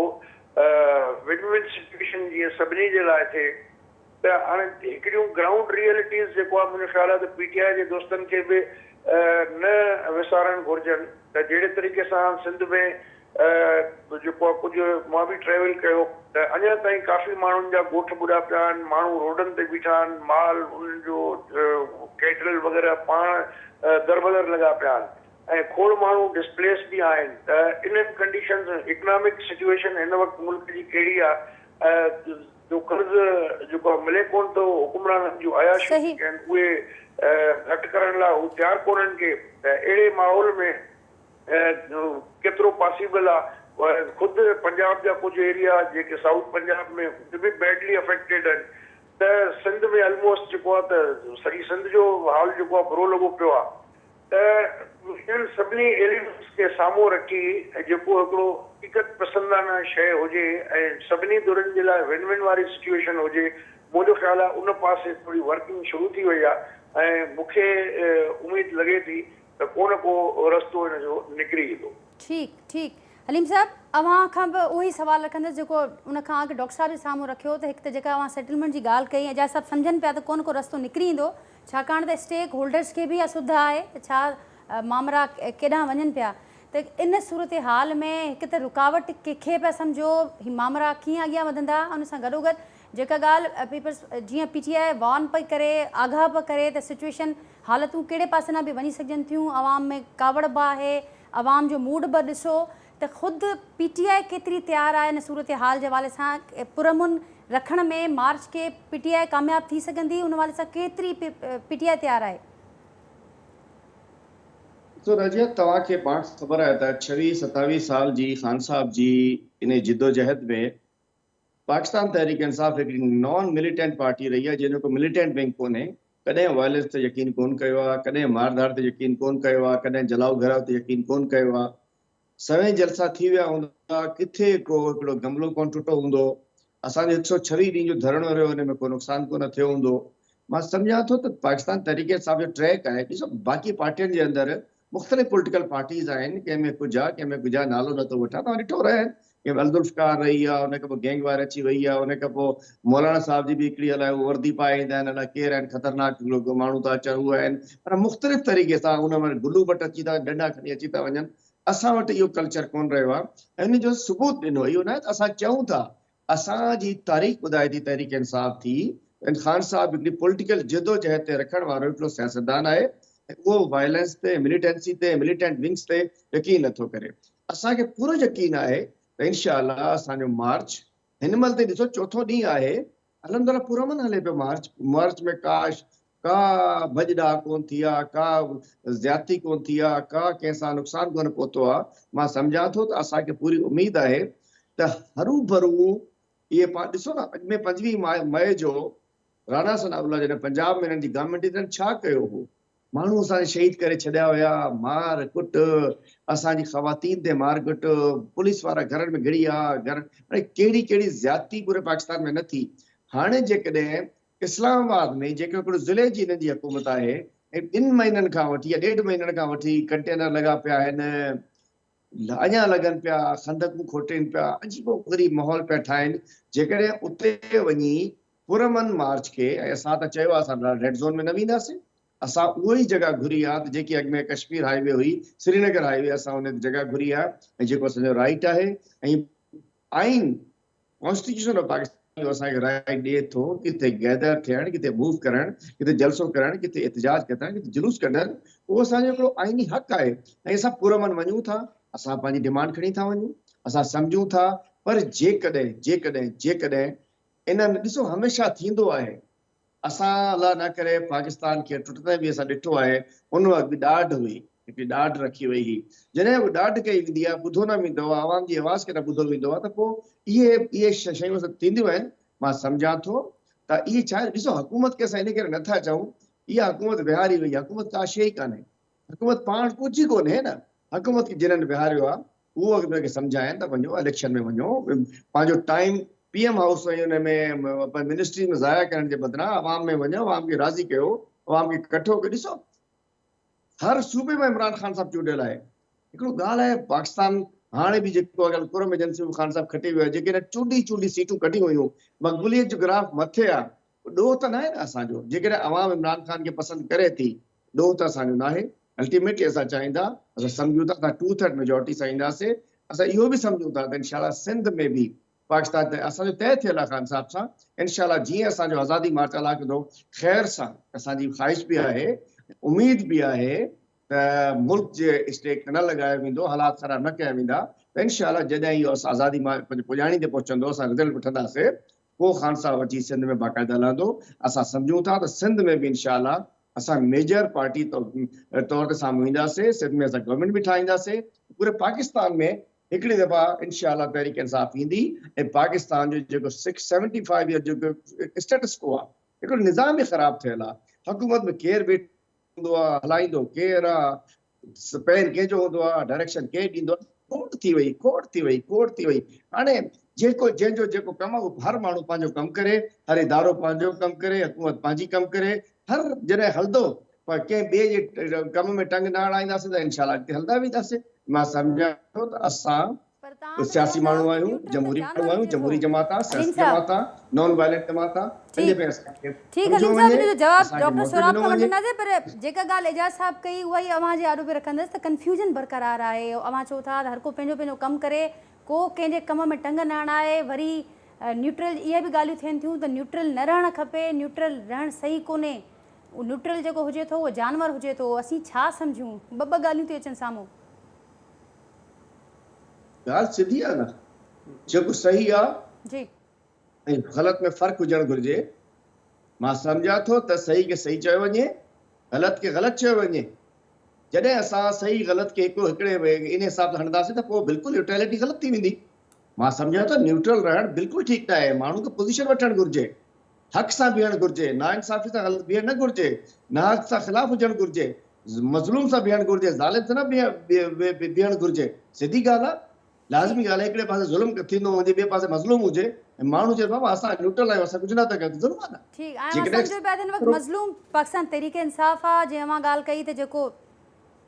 Speaker 2: ون ون سچوئيشن جيئن سڀني جي لاء ٿئي ته هاڻي هڪڙيون گرائونڊ ريئلٽيز جيڪو آهي منهنجو خيال آهي ته پي ٽي آء جي دوستن کي به نه وسارڻ گهرجن ته جهڙي طريقي سان سنڌ ۾ جيڪو آ ڪجهه مان به ٽريول ڪيو ته اڃا تائين ڪافي ماڻهن جا ڳوٺ ٻڏا پيا آهن، ماڻهو روڊن تي بيٺا آهن، مال انهن جو ڪيٽل وغيره پاڻ دربدر لڳا پيا آهن ۽ کوڙ ماڻهو ڊسپليس به آهن ته انهن ڪنڊيشنز ۾ اڪنامڪ سچويشن هن وقت ملڪ جي ڪهڙي آ جو قرض جيڪو آ ملي ڪونه ٿو، حڪمرانن جون عياشيون جيڪي آهن اهي گهٽ ڪرڻ لاء هو تيار ڪونهن ڪي ته اهڙي ماحول ۾ ڪيترو پاسيبل آ خود پنجاب جا ڪجهه ايريا جيڪي سائوٿ پنجاب ۾ به بيڊلي افيڪٽيڊ آهن ته سنڌ ۾ الموسٽ جيڪو آ ته سڄي سنڌ جو حال جيڪو آ برو لڳو پيو آ ته انهن سڀني ايليمينٽس کي سامهون رکي جيڪو هڪڙو حقيقت پسندانه شيء هجي ۽ سڀني ڌرين جي لاء ون ون واري سچوئيشن هجي منهنجو خيال آ ان پاسي ٿوري ورڪنگ شروع ٿي وئي آ ۽ مونکي اميد لڳي ٿي ته ڪو نه ڪو رستو ان جو نڪري ايندو. ٺيڪ
Speaker 1: ٺيڪ حليم صاحب اوهان کان به اهو ئي سوال رکندس جيڪو ان کان اڳ ڊاڪٽر صاحب جي سامهون رکيو ته هڪ ته جيڪا اوهان سيٽلمينٽ جي ڳالهه ڪئي اعجاز صاحب سمجهن پيا ته ڪو نه ڪو رستو نڪري ايندو ڇاڪاڻ ته اسٽيڪ هولڊرز کي به اها سڌ آهي ته ڇا مامرا ڪيڏانهن وڃن پيا ته ان صورتحال ۾ هڪ ته رڪاوٽ ڪي کي پيا سمجهو هي مامرا ڪيئن اڳيان وڌندا ان سان گڏوگڏ جيڪا ڳالهه پيپلز جيئن پي ٽي آء وارن پئي ڪري، آگاهه پئي ڪري ته سچوئيشن، حالتون ڪهڙي پاسي ڏانهن به وڃي سگهجن ٿيون، عوام ۾ ڪاوڙ به آهي، عوام جو موڊ به ڏسو ته خود پي ٽي آء ڪيتري تيار آهي ان صورتحال جي حوالي سان پرامن رکڻ ۾ مارچ کي پي ٽي آء ڪامياب ٿي سگهندي ان حوالي سان ڪيتري پي ٽي آء تيار آهي.
Speaker 3: ڏسو رضيه توهان کي پاڻ خبر آهي ته ڇويهه ستاويهه سال جي خان صاحب جي انهي جدوجهد ۾ پاڪستان تحريڪ انصاف هڪڙي نان مليٽنٽ پارٽي رهي آهي جنهن جو ڪو مليٽنٽ ونگ ڪونهي، ڪڏهن وائلنس تي يقين ڪون ڪيو آهي، ڪڏهن مار ڌاڙ تي يقين ڪون ڪيو آهي، ڪڏهن جلاؤ گهيراء تي يقين ڪون ڪيو آهي. سوين جلسا ٿي ويا هوندا، ڪٿي ڪو هڪڙو گملو ڪون ٽٽو هوندو، اسان جو هڪ سؤ ڇويهه ڏينهن جو ڌرڻو رهيو ان ۾ ڪو نقصان ڪونه ٿيو هوندو. مان سمجهان ٿو ته پاڪستان تحريڪ انصاف جو ٽريڪ آهي، ڏسو باقي پارٽين جي اندر مختلف پوليٽيڪل پارٽيز آهن ڪنهن ۾ ڪجا ڪنهن ۾ ڪجا نالو نه ٿو وٺان توهان ڏٺو رهي ڪنهن ۾ الذوالفقار رهي آهي ان کان پوء گينگ وائر اچي وئي آهي ان کان پوء مولانا صاحب جي به هڪڙي الاء هو وردي پائي ايندا آهن الاء ڪير آهن خطرناڪ ماڻهو ٿا اچن هو آهن معنيٰ مختلف طريقي سان ان ۾ بلو بٽ اچي ٿا ڏنڊا کڻي اچي ٿا وڃن اسان وٽ اهو ڪلچر ڪونه رهيو آهي ۽ ان جو ثبوت ڏنو اهو ناهي ته اسان چئون ٿا اسان جي تاريخ ٻڌائي ٿي تحريڪ انصاف ٿي ان خان صاحب هڪڙي پوليٽيڪل جدوجهد تي رکڻ وارو هڪڙو سياستدان آهي ۽ اهو وائلنس تي مليٽنسي تي مليٽنٽ ونگز تي يقين نه ٿو ڪري اسان کي پورو يقين آهي ته انشاء الله اسان جو مارچ هن مهل تائين ڏسو چوٿون ڏينهن آهي الحمدالله پرامن هلي پيو مارچ مارچ ۾ ڪاش ڪا ڀڄ ڊاهه ڪون ٿي آ، ڪا زيادتي ڪون ٿي آ، ڪا ڪنهن سان نقصان ڪونه پهتو آ، مان سمجهان ٿو ته اسان کي پوري اميد آهي ته هروڀرو اهي پاڻ ڏسو نه اڳ ۾ پنجويهه مئي جو رانا ثناء الله جڏهن پنجاب ۾ هنن جي گورنمينٽ هئي ته هنن ڇا ڪيو هو، ماڻهو اسان جا شهيد ڪري ڇڏيا هيا، مار ڪٽ، اسان جي خواتين تي مار ڪٽ، پوليس وارا گهرن ۾ گهڙي آ، گهر ۾ ڪهڙي ڪهڙي زيادتي پوري پاڪستان ۾ نه ٿي، هاڻي جيڪڏهن اسلام آباد ۾ جيڪو هڪڙو ضلعي جي انهن جي حڪومت آهي ۽ ٻن مهينن کان وٺي يا ڏيڍ مهينن کان وٺي ڪنٽينر لڳا پيا آهن اڃا لڳن پيا خندقون کوٽين پيا عجيب و غريب ماحول پيا ٺاهين جيڪڏهن اتي وڃي پرامن مارچ کي ۽ اسان ته چيو آهي اسان ريڊ زون ۾ نه وينداسين اسان اهو ئي جڳهه گهري آهي ته جيڪي اڳ ۾ ڪشمير هاء وي هئي سرينگر هاء وي اسان ان جڳهه گهري آهي ۽ جيڪو اسان جو رائيٽ آهي ۽ آئين ڪانسٽيٽيوشن آف پاڪستان جو اسان کي رائيٽ ڏئي ٿو ڪٿي گيدر ٿيڻ، ڪٿي موو ڪرڻ، ڪٿي جلسو ڪرڻ، ڪٿي احتجاج ڪڍڻ، ڪٿي جلوس ڪڍڻ، اهو اسان جو هڪڙو آئيني حق آهي ۽ اسان پرامن وڃون ٿا، اسان پنهنجي ڊيمانڊ کڻي ٿا وڃون، اسان سمجهون ٿا پر جيڪڏهن، جيڪڏهن، جيڪڏهن انهن، ڏسو هميشه ٿيندو آهي اسان الله نه ڪري پاڪستان کي ٽٽندي به اسان ڏٺو آهي، ان وقت به ڏاڍ هئي، هڪڙي ڏاڍ رکي وئي هئي، جڏهن به ڏاڍ ڪئي ويندي آهي ٻڌو نه ويندو آهي، عوام جي آواز کي نه ٻڌو ويندو آهي ته پوء اهي اهي شيون سڀ ٿينديون آهن، مان سمجهان ٿو ته اهي ڇا آهن، ڏسو حڪومت کي اسان ان ڪري نه ٿا چئون، اها حڪومت ويهاري وئي آهي، حڪومت ڪا شيء ئي ڪانهي، حڪومت پاڻ ڪجهه ئي ڪونهي نه، حڪومت کي جنن ويهاريو آهي، هو انهن کي سمجهاين ته وڃو اليڪشن ۾ وڃو پنهنجو ٽائيم پي ايم هائوس ۽ ان ۾ منسٽريز ۾ ضايع ڪرڻ جي بدران عوام ۾ وڃو عوام کي راضي ڪيو عوام کي ڪٺو ڪيو ڏسو هر صوبي ۾ عمران خان صاحب چونڊيل آهي هڪڙو ڳالهه آهي پاڪستان هاڻي به جيڪو اگر قرم ايجنسي خان صاحب کٽي ويو آهي جيڪي نه چونڊي چونڊي سيٽون ڪڍيون ويون مقبوليت جو گراف مٿي آهي ڏوهه ته ناهي نه اسان جو جيڪڏهن عوام عمران خان کي پسند ڪري ٿي ڏوهه ته اسان جو ناهي، الٽيميٽلي اسان چاهيون ٿا، اسان سمجهون ٿا اسان ٽو ٿرڊ ميجارٽي سان اينداسين، اسان اهو به سمجهون ٿا ته انشاء الله سنڌ ۾ به پاڪستان ته اسان جو طئي ٿيل آهي خان صاحب سان، انشاء الله جيئن اسان جو آزادي مارچ الله ڪندو خير سان، اسان جي خواهش به آهي اميد به آهي ته ملڪ جي اسٽيڪ نه لڳايو ويندو، حالات خراب نه ڪيا ويندا ته انشاء الله جڏهن اهو آزادي مارچ پنهنجي پڄاڻي تي پهچندو اسان رزلٽ وٺنداسين ڪو خانصاحب اچي سنڌ ۾ باقاعده هلندو اسان سمجهون ٿا ته سنڌ ۾ به انشاء الله اسان ميجر پارٽي طور تي سامهون اينداسين سنڌ ۾ اسان گورنمينٽ به ٺاهينداسين پوري پاڪستان ۾ هڪڙي دفعا انشاء الله تحريڪ انصاف ايندي ۽ پاڪستان جو جيڪو سکس سيونٽي فائيو يئر جو اسٽيٽس ڪو آ هڪڙو نظام ئي خراب ٿيل آ حڪومت ۾ ڪير ويٺو هوندو آ، هلائيندو ڪير آ، پير ڪنهن جو هوندو آ، ڊائريڪشن ڪير ڏيندو آ، کوٽ ٿي وئي، کوٽ ٿي وئي، کوٽ ٿي وئي. هاڻي جيڪو جنهن جو جيڪو ڪم آ، اهو هر ماڻهو پنهنجو ڪم ڪري، هر ادارو پنهنجو ڪم ڪري، حڪومت پنهنجي ڪم ڪري، هر جڏهن هلندو پر ڪنهن ٻئي جي ڪم ۾ ٽنگ نه اڻائينداسين ته انشاء الله اڳتي هلندا وينداسين. مان سمجهان ٿو ته اسان
Speaker 1: ڪجهه سياسي ماڻهو آهيون، جمهوري ماڻهو آهيون، جمهوري جماعت آ، سياسي جماعت آ، نان وائلنٽ جماعت آ، تنهنجي ڪري اسان کي سمجهيو وڃي، اسان کي موقعو ڏنو وڃي.
Speaker 3: ڳالهه سڌي آ نه جيڪو صحيح آ جي ۽
Speaker 1: غلط
Speaker 3: ۾ فرق هجڻ گهرجي مان سمجهان ٿو ته صحيح کي صحيح چيو وڃي غلط کي غلط چيو وڃي جڏهن اسان صحيح غلط کي هڪ هڪڙي ان حساب سان هڻنداسين ته پوء بلڪل يوٽيلٽي غلط ٿي ويندي مان سمجهان ٿو نيوٽرل رهڻ بلڪل ٺيڪ ناهي ماڻهو کي پوزيشن وٺڻ گهرجي حق سان بيهڻ گهرجي، ناانصافي سان غلط بيهڻ نه گهرجي، ناحق سان خلاف هجڻ گهرجي، مظلوم سان بيهڻ گهرجي، ظالم سان نه بيهڻ گهرجي، سڌي ڳالهه آ، لازمي ڳالهه آ هڪڙي پاسي ظلم ٿيندو هجي ٻئي پاسي مظلوم هجي ۽ ماڻهو چئي بابا اسان نيوٽرل آهيون اسان ڪجهه نه ٿا ڪيون ته ظلم آ نه ٺيڪ آهي اوهان سمجهو
Speaker 1: پيا ته هن وقت مظلوم پاڪستان تحريڪ انصاف آ جنهن اوهان ڳالهه ڪئي ته جيڪو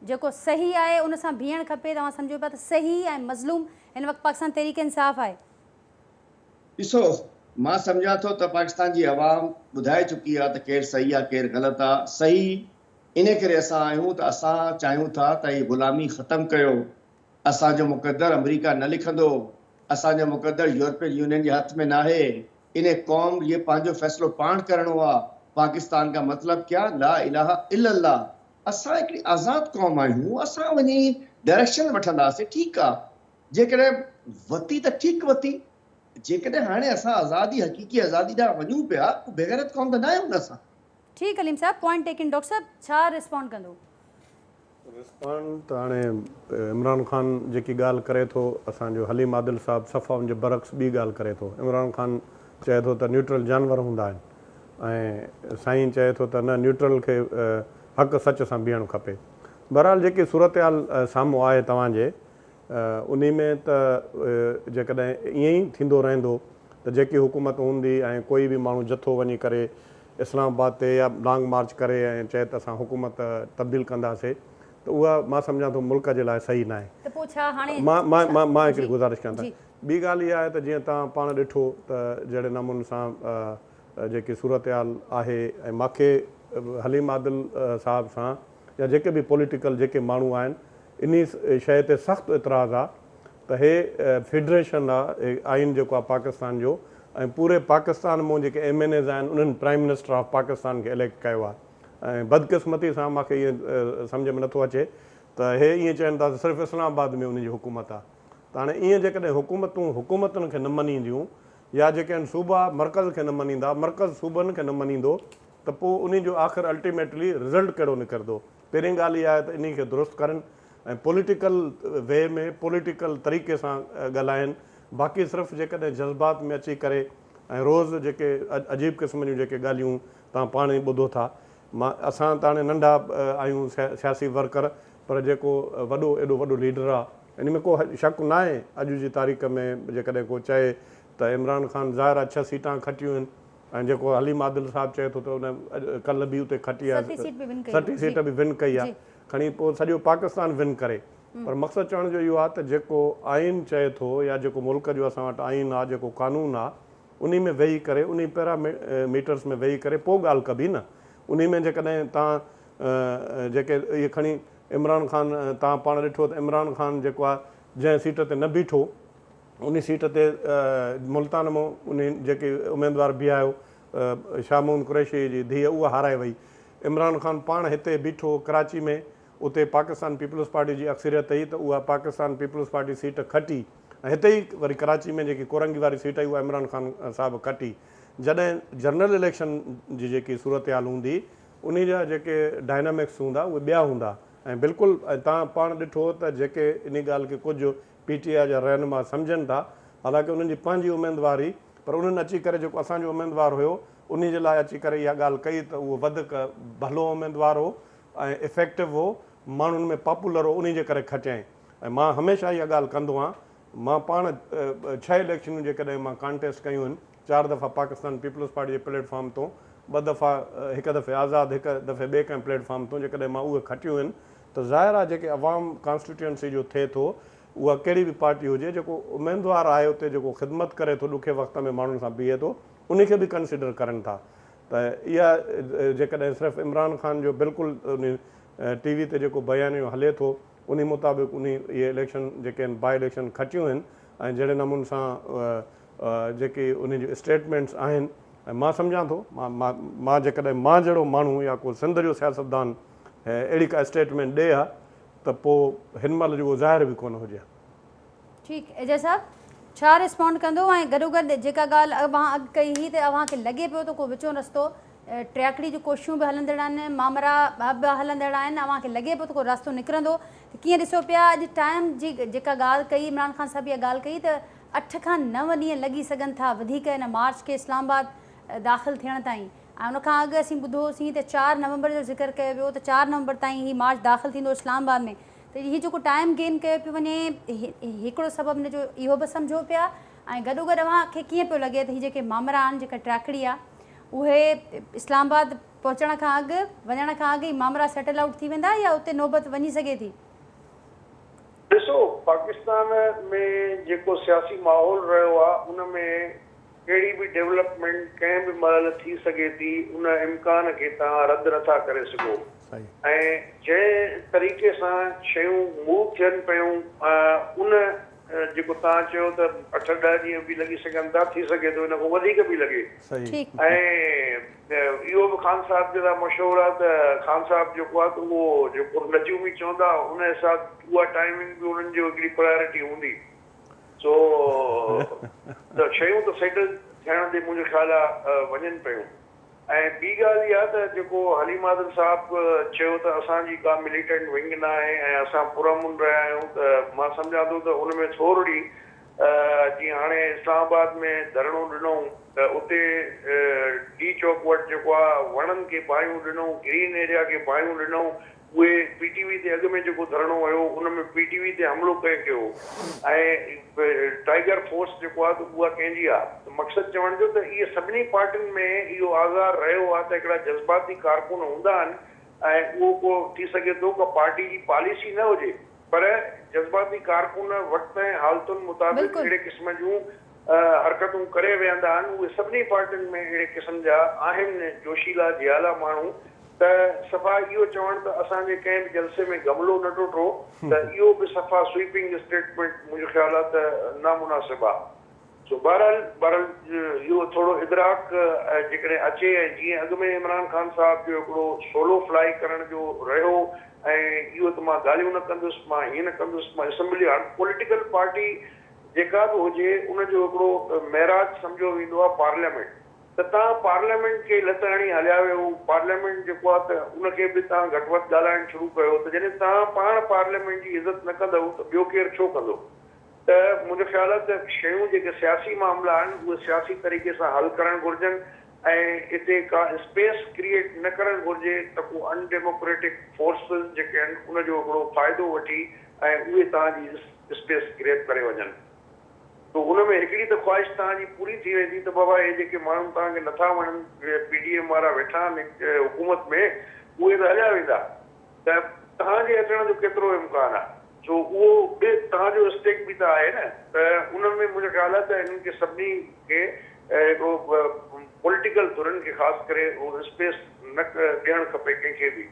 Speaker 1: جيڪو صحيح آهي ان سان بيهڻ کپي ته اوهان سمجهو پيا ته صحيح ۽ مظلوم هن وقت پاڪستان تحريڪ انصاف آهي.
Speaker 3: ڏسو، مان سمجهان ٿو ته پاڪستان جي عوام ٻڌائي چڪي آهي ته ڪير صحيح آهي ڪير غلط آهي. صحيح انهي ڪري اسان آهيون ته اسان چاهيون ٿا ته هي غلامي ختم ڪيو. اسان جو مقدر آمريڪا نه لکندو. اسان جو مقدر يورپين يونين جي هٿ ۾ ناهي. انهي قوم جي پنهنجو فيصلو پاڻ ڪرڻو آهي. پاڪستان ڪا مطلب ڪيا، لا اله الا الله. اسان هڪڙي آزاد قوم آهيون. اسان وڃي ڊائريڪشن وٺنداسين. ٺيڪ آهي. جيڪڏهن وتي ته ٺيڪ وتي، جيڪڏهن هاڻي اسان آزادي حقيقي آزادي ڏانهن وڃون پيا پوء بيغيرت قوم ته ناهيون نه اسان. ٺيڪ Aleem sahib
Speaker 1: point taken doctor sahib ڇا ريسپانڊ ڪندو.
Speaker 4: ريسپانڊ ته هاڻي عمران خان جيڪي ڳالهه ڪري ٿو اسان جو حليم عادل صاحب صفا ان جي برعڪس ٻي ڳالهه ڪري ٿو عمران خان چئي ٿو ته نيوٽرل جانور هوندا آهن ۽ سائين چئي ٿو ته نه نيوٽرل کي حق سچ سان بيهڻ کپي بهرحال جيڪي صورتحال سامهون آهي توهان جي انهي ۾ ته جيڪڏهن ائين ئي ٿيندو رهندو ته جيڪي حڪومت هوندي ۽ ڪوئي به ماڻهو جٿو وڃي ڪري اسلام آباد تي يا لانگ مارچ ڪري ۽ چئي ته اسان حڪومت تبديل ڪنداسي ته اها مان سمجهان ٿو ملڪ جي لاء صحيح ناهي. ته پوء ڇا هاڻي مان مان هڪڙي گذارش ڪيان ٿا ٻي ڳالهه اها آهي ته جيئن تان پاڻ ڏٺو ته جهڙي نموني سان جيڪي صورتحال آهي ۽ ماکي حليم عادل صاحب سان يا جيڪي به پوليٽيڪل جيڪي ماڻهو آهن انهي شيء تي سخت اعتراض آ ته هي فيڊريشن آ، هي آئين جيڪو آ پاڪستان جو ۽ پوري پاڪستان مون جيڪي ايم اين ايز آهن انهن پرائيم منسٽر آف پاڪستان کي اليڪٽ ڪيو آ ۽ بدقسمتي سان مان کي ائين سمجهه ۾ نٿو اچي ته هي ائين چين ٿا ته صرف اسلام آباد ۾ انهن جي حڪومت آ ته هاڻي ائين جيڪڏهن حڪومتون حڪومتن کي نه مڃينديون يا جيڪي آهن صوبا مرڪز کي نه مڃيندا مرڪز صوبن کي نه مڃيندو ته پوء انهي جو آخر الٽيميٽلي رزلٽ ڪهڙو نڪردو. پهرين ڳالهه اها آهي ته انهي کي درست ڪرن ۽ پوليٽيڪل وي ۾ پوليٽيڪل طريقي سان ڳالهائن باقي صرف جيڪڏهن جذبات ۾ اچي ڪري ۽ روز جيڪي عجيب قسم جون جيڪي ڳالهيون توهان پاڻ ئي ٻڌو ٿا مان اسان ته هاڻي ننڍا آهيون سياسي ورڪر پر جيڪو وڏو ايڏو وڏو ليڊر آهي. ان ۾ ڪو شڪ ناهي اڄ جي تاريخ ۾ جيڪڏهن ڪو چئي ته عمران خان ظاهر آهي ڇهه سيٽان کٽيون آهن ۽ جيڪو حليم عادل صاحب چئي ٿو ته ان ڪلهه به اتي کٽي آهي، سٽي سيٽ به ون ڪئي آهي، کڻي پوء سڄو پاڪستان ون ڪري. پر مقصد چوڻ جو اهو آهي ته جيڪو آئين چئي ٿو يا جيڪو ملڪ جو اسان وٽ آئين آهي، جيڪو قانون آهي، انهي ۾ ويهي ڪري، انهي پيرا ميٽرس ۾ ويهي ڪري پوء ڳالهه ڪبي نه. انهي ۾ جيڪڏهن توهان جيڪي اهي کڻي عمران خان توهان پاڻ ڏٺو ته عمران خان جيڪو آهي جنهن سيٽ تي نه بيٺو، ان سيٽ تي ملتان مون انهي جيڪي اميدوار بيهايو شاهه محمد قريشيء جي ڌيء اها هارائي وئي. عمران خان پاڻ هتي بيٺو هو ڪراچي ۾، اتي پاڪستان پيپلز پارٽي جي اڪثريت هئي ته اها پاڪستان پيپلز پارٽي سيٽ کٽي ۽ هتي ئي وري ڪراچي ۾ جيڪي ڪورنگي واري سيٽ هئي اها عمران خان صاحب کٽي جڏهن جنرل اليڪشن جي جيڪي صورتحال هوندي انهي جا جيڪي ڊائنامڪس هوندا اهي ٻيا هوندا ۽ بلڪل ۽ تان پاڻ ڏٺو ته جيڪي انهي ڳالهه کي ڪجهه پي ٽي آء جا رهنما سمجهن ٿا حالانڪه انهن جي پنهنجي اميدوار هئي پر انهن اچي ڪري جيڪو اسان جو اميدوار هيو انهي جي لاء اچي ڪري اها ڳالهه ڪئي ته اهو وڌڪ ڀلو اميدوار هو ۽ افيڪٽو هو ماڻهن ۾ پاپولر هو انهي جي ڪري کٽيائين ۽ مان هميشه اها ڳالهه ڪندو آهيان مان پاڻ ڇهه اليڪشنون جيڪڏهن مان ڪانٽيسٽ ڪيون آهن چار دفعا پاڪستان پيپلز پارٽي جي پليٽ فارم تون ٻه دفعا هڪ دفعي آزاد هڪ دفعي ٻئي ڪنهن پليٽ فارم تون جيڪڏهن مان اهي کٽيون آهن ته ظاهر آهي جيڪي عوام ڪانسٽيٽيوئنسي جو ٿئي ٿو اها ڪهڙي به پارٽي هجي جيڪو اميدوار آهي اتي جيڪو خدمت ڪري ٿو ڏکي وقت ۾ ماڻهن سان بيهي ٿو ان کي به ڪنسيڊر ڪرن ٿا ته اها جيڪڏهن صرف عمران خان جو بلڪل ان ٽي وي تي جيڪو بيانيو هلي ٿو ان مطابق ان اهي اليڪشن جيڪي آهن باء اليڪشن کٽيون آهن ۽ جهڙي نمون سان جيڪي ان جون اسٽيٽمينٽس آهن ۽ مان سمجهان ٿو مان جيڪڏهن مان جهڙو ماڻهو يا ڪو سنڌ جو سياستدان ۽ اهڙي ڪا اسٽيٽمينٽ ڏئي ها ته پوء هن مهل جو اهو ظاهر به ڪونه هجي ها. ٺيڪ
Speaker 1: ايجاز صاحب ڇا ريسپونڊ ڪندو ۽ گڏوگڏ جيڪا ڳالهه اوهان اڳ ڪئي هئي ته اوهان کي لڳي پيو ته ڪو وچون رستو ٽياڪڙي جون ڪوششون به هلندڙ آهن مامرا به هلندڙ آهن اوهان کي لڳي پيو ته ڪو راستو نڪرندو ته ڪيئن ڏسو پيا اڄ ٽائيم جي جيڪا ڳالهه ڪئي عمران خان صاحب اها ڳالهه ڪئي ته اٺ کان نو ڏينهن لڳي سگهن ٿا وڌيڪ هن مارچ کي اسلام آباد داخل ٿيڻ تائين ۽ ان کان اڳ اسين ٻڌو هوسين ته چار نومبر جو ذڪر ڪيو ويو ته چار نومبر تائين هي مارچ داخل ٿيندو اسلام آباد ۾ ته هي جيڪو ٽائيم گين ڪيو پيو وڃي هڪڙو سبب ان جو اهو به سمجهو پيا ۽ گڏوگڏ اوهان کي ڪيئن پيو لڳي ته هي جيڪي مامرا آهن جيڪا ٽراڪڙي آهي اهي اسلام آباد پهچڻ کان اڳ وڃڻ کان اڳ ئي مامرا سيٽل آئوٽ ٿي ويندا يا اتي نوبت وڃي سگهي ٿي؟
Speaker 2: ڏسو پاڪستان ۾ جيڪو سياسي ماحول رهيو آهي ان ۾ ڪهڙي به ڊيولپمينٽ ڪنهن به مهل ٿي سگهي ٿي ان امڪان کي توهان رد نٿا ڪري سگهو ۽ جنهن طريقي سان شيون موو ٿين پيون ان جيڪو توهان چيو ته اٺ ڏهه ڏينهن به لڳي سگهن ٿا ٿي سگهي ٿو ان کان وڌيڪ به لڳي ۽ اهو به خان صاحب جي لاء مشهور آهي ته خان صاحب جيڪو آهي ته اهو جيڪو نجومي چوندا ان حساب اها ٽائمنگ به انهن جو هڪڙي پرايورٽي هوندي. سو ته شيون ته سيٽل ٿيڻ تي منهنجو خيال آ وڃن پيون ۽ ٻي ڳالهه اها ته جيڪو حليم عادل صاحب چيو ته اسان جي ڪا مليٽنٽ ونگ نه آهي ۽ اسان پرامن رهيا آهيون ته مان سمجهان ٿو ته ان ۾ ٿورڙي جيئن هاڻي اسلام آباد ۾ ڌرڻو ڏنئون ته اتي ڊي چوڪ وٽ جيڪو آ وڻن کي باهيون ڏنئون گرين ايريا کي باهيون ڏنئون اهي پي ٽي وي تي اڳ ۾ جيڪو ڌرڻو هيو ان ۾ پي ٽي وي تي حملو ڪنهن ڪيو ۽ ٽائيگر فورس جيڪو آهي ته اها ڪنهن جي آهي ته مقصد چوڻ جو ته اهي سڀني پارٽين ۾ اهو آزار رهيو آهي ته هڪڙا جذباتي ڪارڪن هوندا آهن ۽ اهو ڪو ٿي سگهي ٿو ڪا پارٽي جي پاليسي نه هجي پر جذباتي ڪارڪن وقت ۽ حالتن مطابق بلڪل. اهڙي قسم جون حرڪتون ڪري ويهندا آهن اهي سڀني پارٽين ۾ اهڙي قسم جا آهن جوشيلا جيالا ماڻهو ته صفا اهو چوڻ ته اسان جي ڪنهن به جلسي ۾ گملو نه ٽٽو ته اهو به صفا سوئپنگ اسٽيٽمينٽ منهنجو خيال آهي ته نامناسب آهي سو بهرحال بهرحال اهو ٿورو ادراڪ جيڪڏهن اچي ۽ جيئن اڳ ۾ عمران خان صاحب جو هڪڙو سولو فلائي ڪرڻ جو رهيو ۽ اهو ته مان ڳالهيون نه ڪندس مان هيئن نه ڪندس مان اسمبلي هاڻ پوليٽيڪل پارٽي جيڪا به هجي ان جو هڪڙو معراج سمجهيو ويندو آهي پارليامينٽ ته تان پارليامينٽ کي لت هڻي هليا ويو پارليامينٽ جيڪو آهي ته ان کي به تان گهٽ وڌ ڳالهائڻ شروع ڪيو ته جڏهن تان پاڻ پارليامينٽ جي عزت نه ڪندؤ ته ٻيو ڪير ڇو ڪندو ته منهنجو خيال آهي ته شيون جيڪي سياسي معاملا آهن اهي سياسي طريقي سان حل ڪرڻ گهرجن ۽ اتي ڪا اسپيس ڪريئيٽ نه ڪرڻ گهرجي ته ڪو ان ڊيموڪريٽڪ فورسز جيڪي آهن ان جو هڪڙو فائدو وٺي ۽ اهي تان جي اسپيس گريپ ڪري وڃن ته ان ۾ هڪڙي ته خواهش توهان جي پوري ٿي ويندي ته بابا هي جيڪي ماڻهو توهان کي نٿا وڻن پي ڊي ايم وارا ويٺا آهن حڪومت ۾ اهي ته هليا ويندا ته توهان جي اچڻ جو ڪيترو امڪان آهي ڇو اهو به توهان جو اسٽيڪ به ته آهي نه ته ان ۾ منهنجو خيال آهي ته هنن کي سڀني کي هڪڙو پوليٽيڪل ڌرين کي خاص ڪري اسپيس نه ڏيڻ کپي ڪنهن کي به.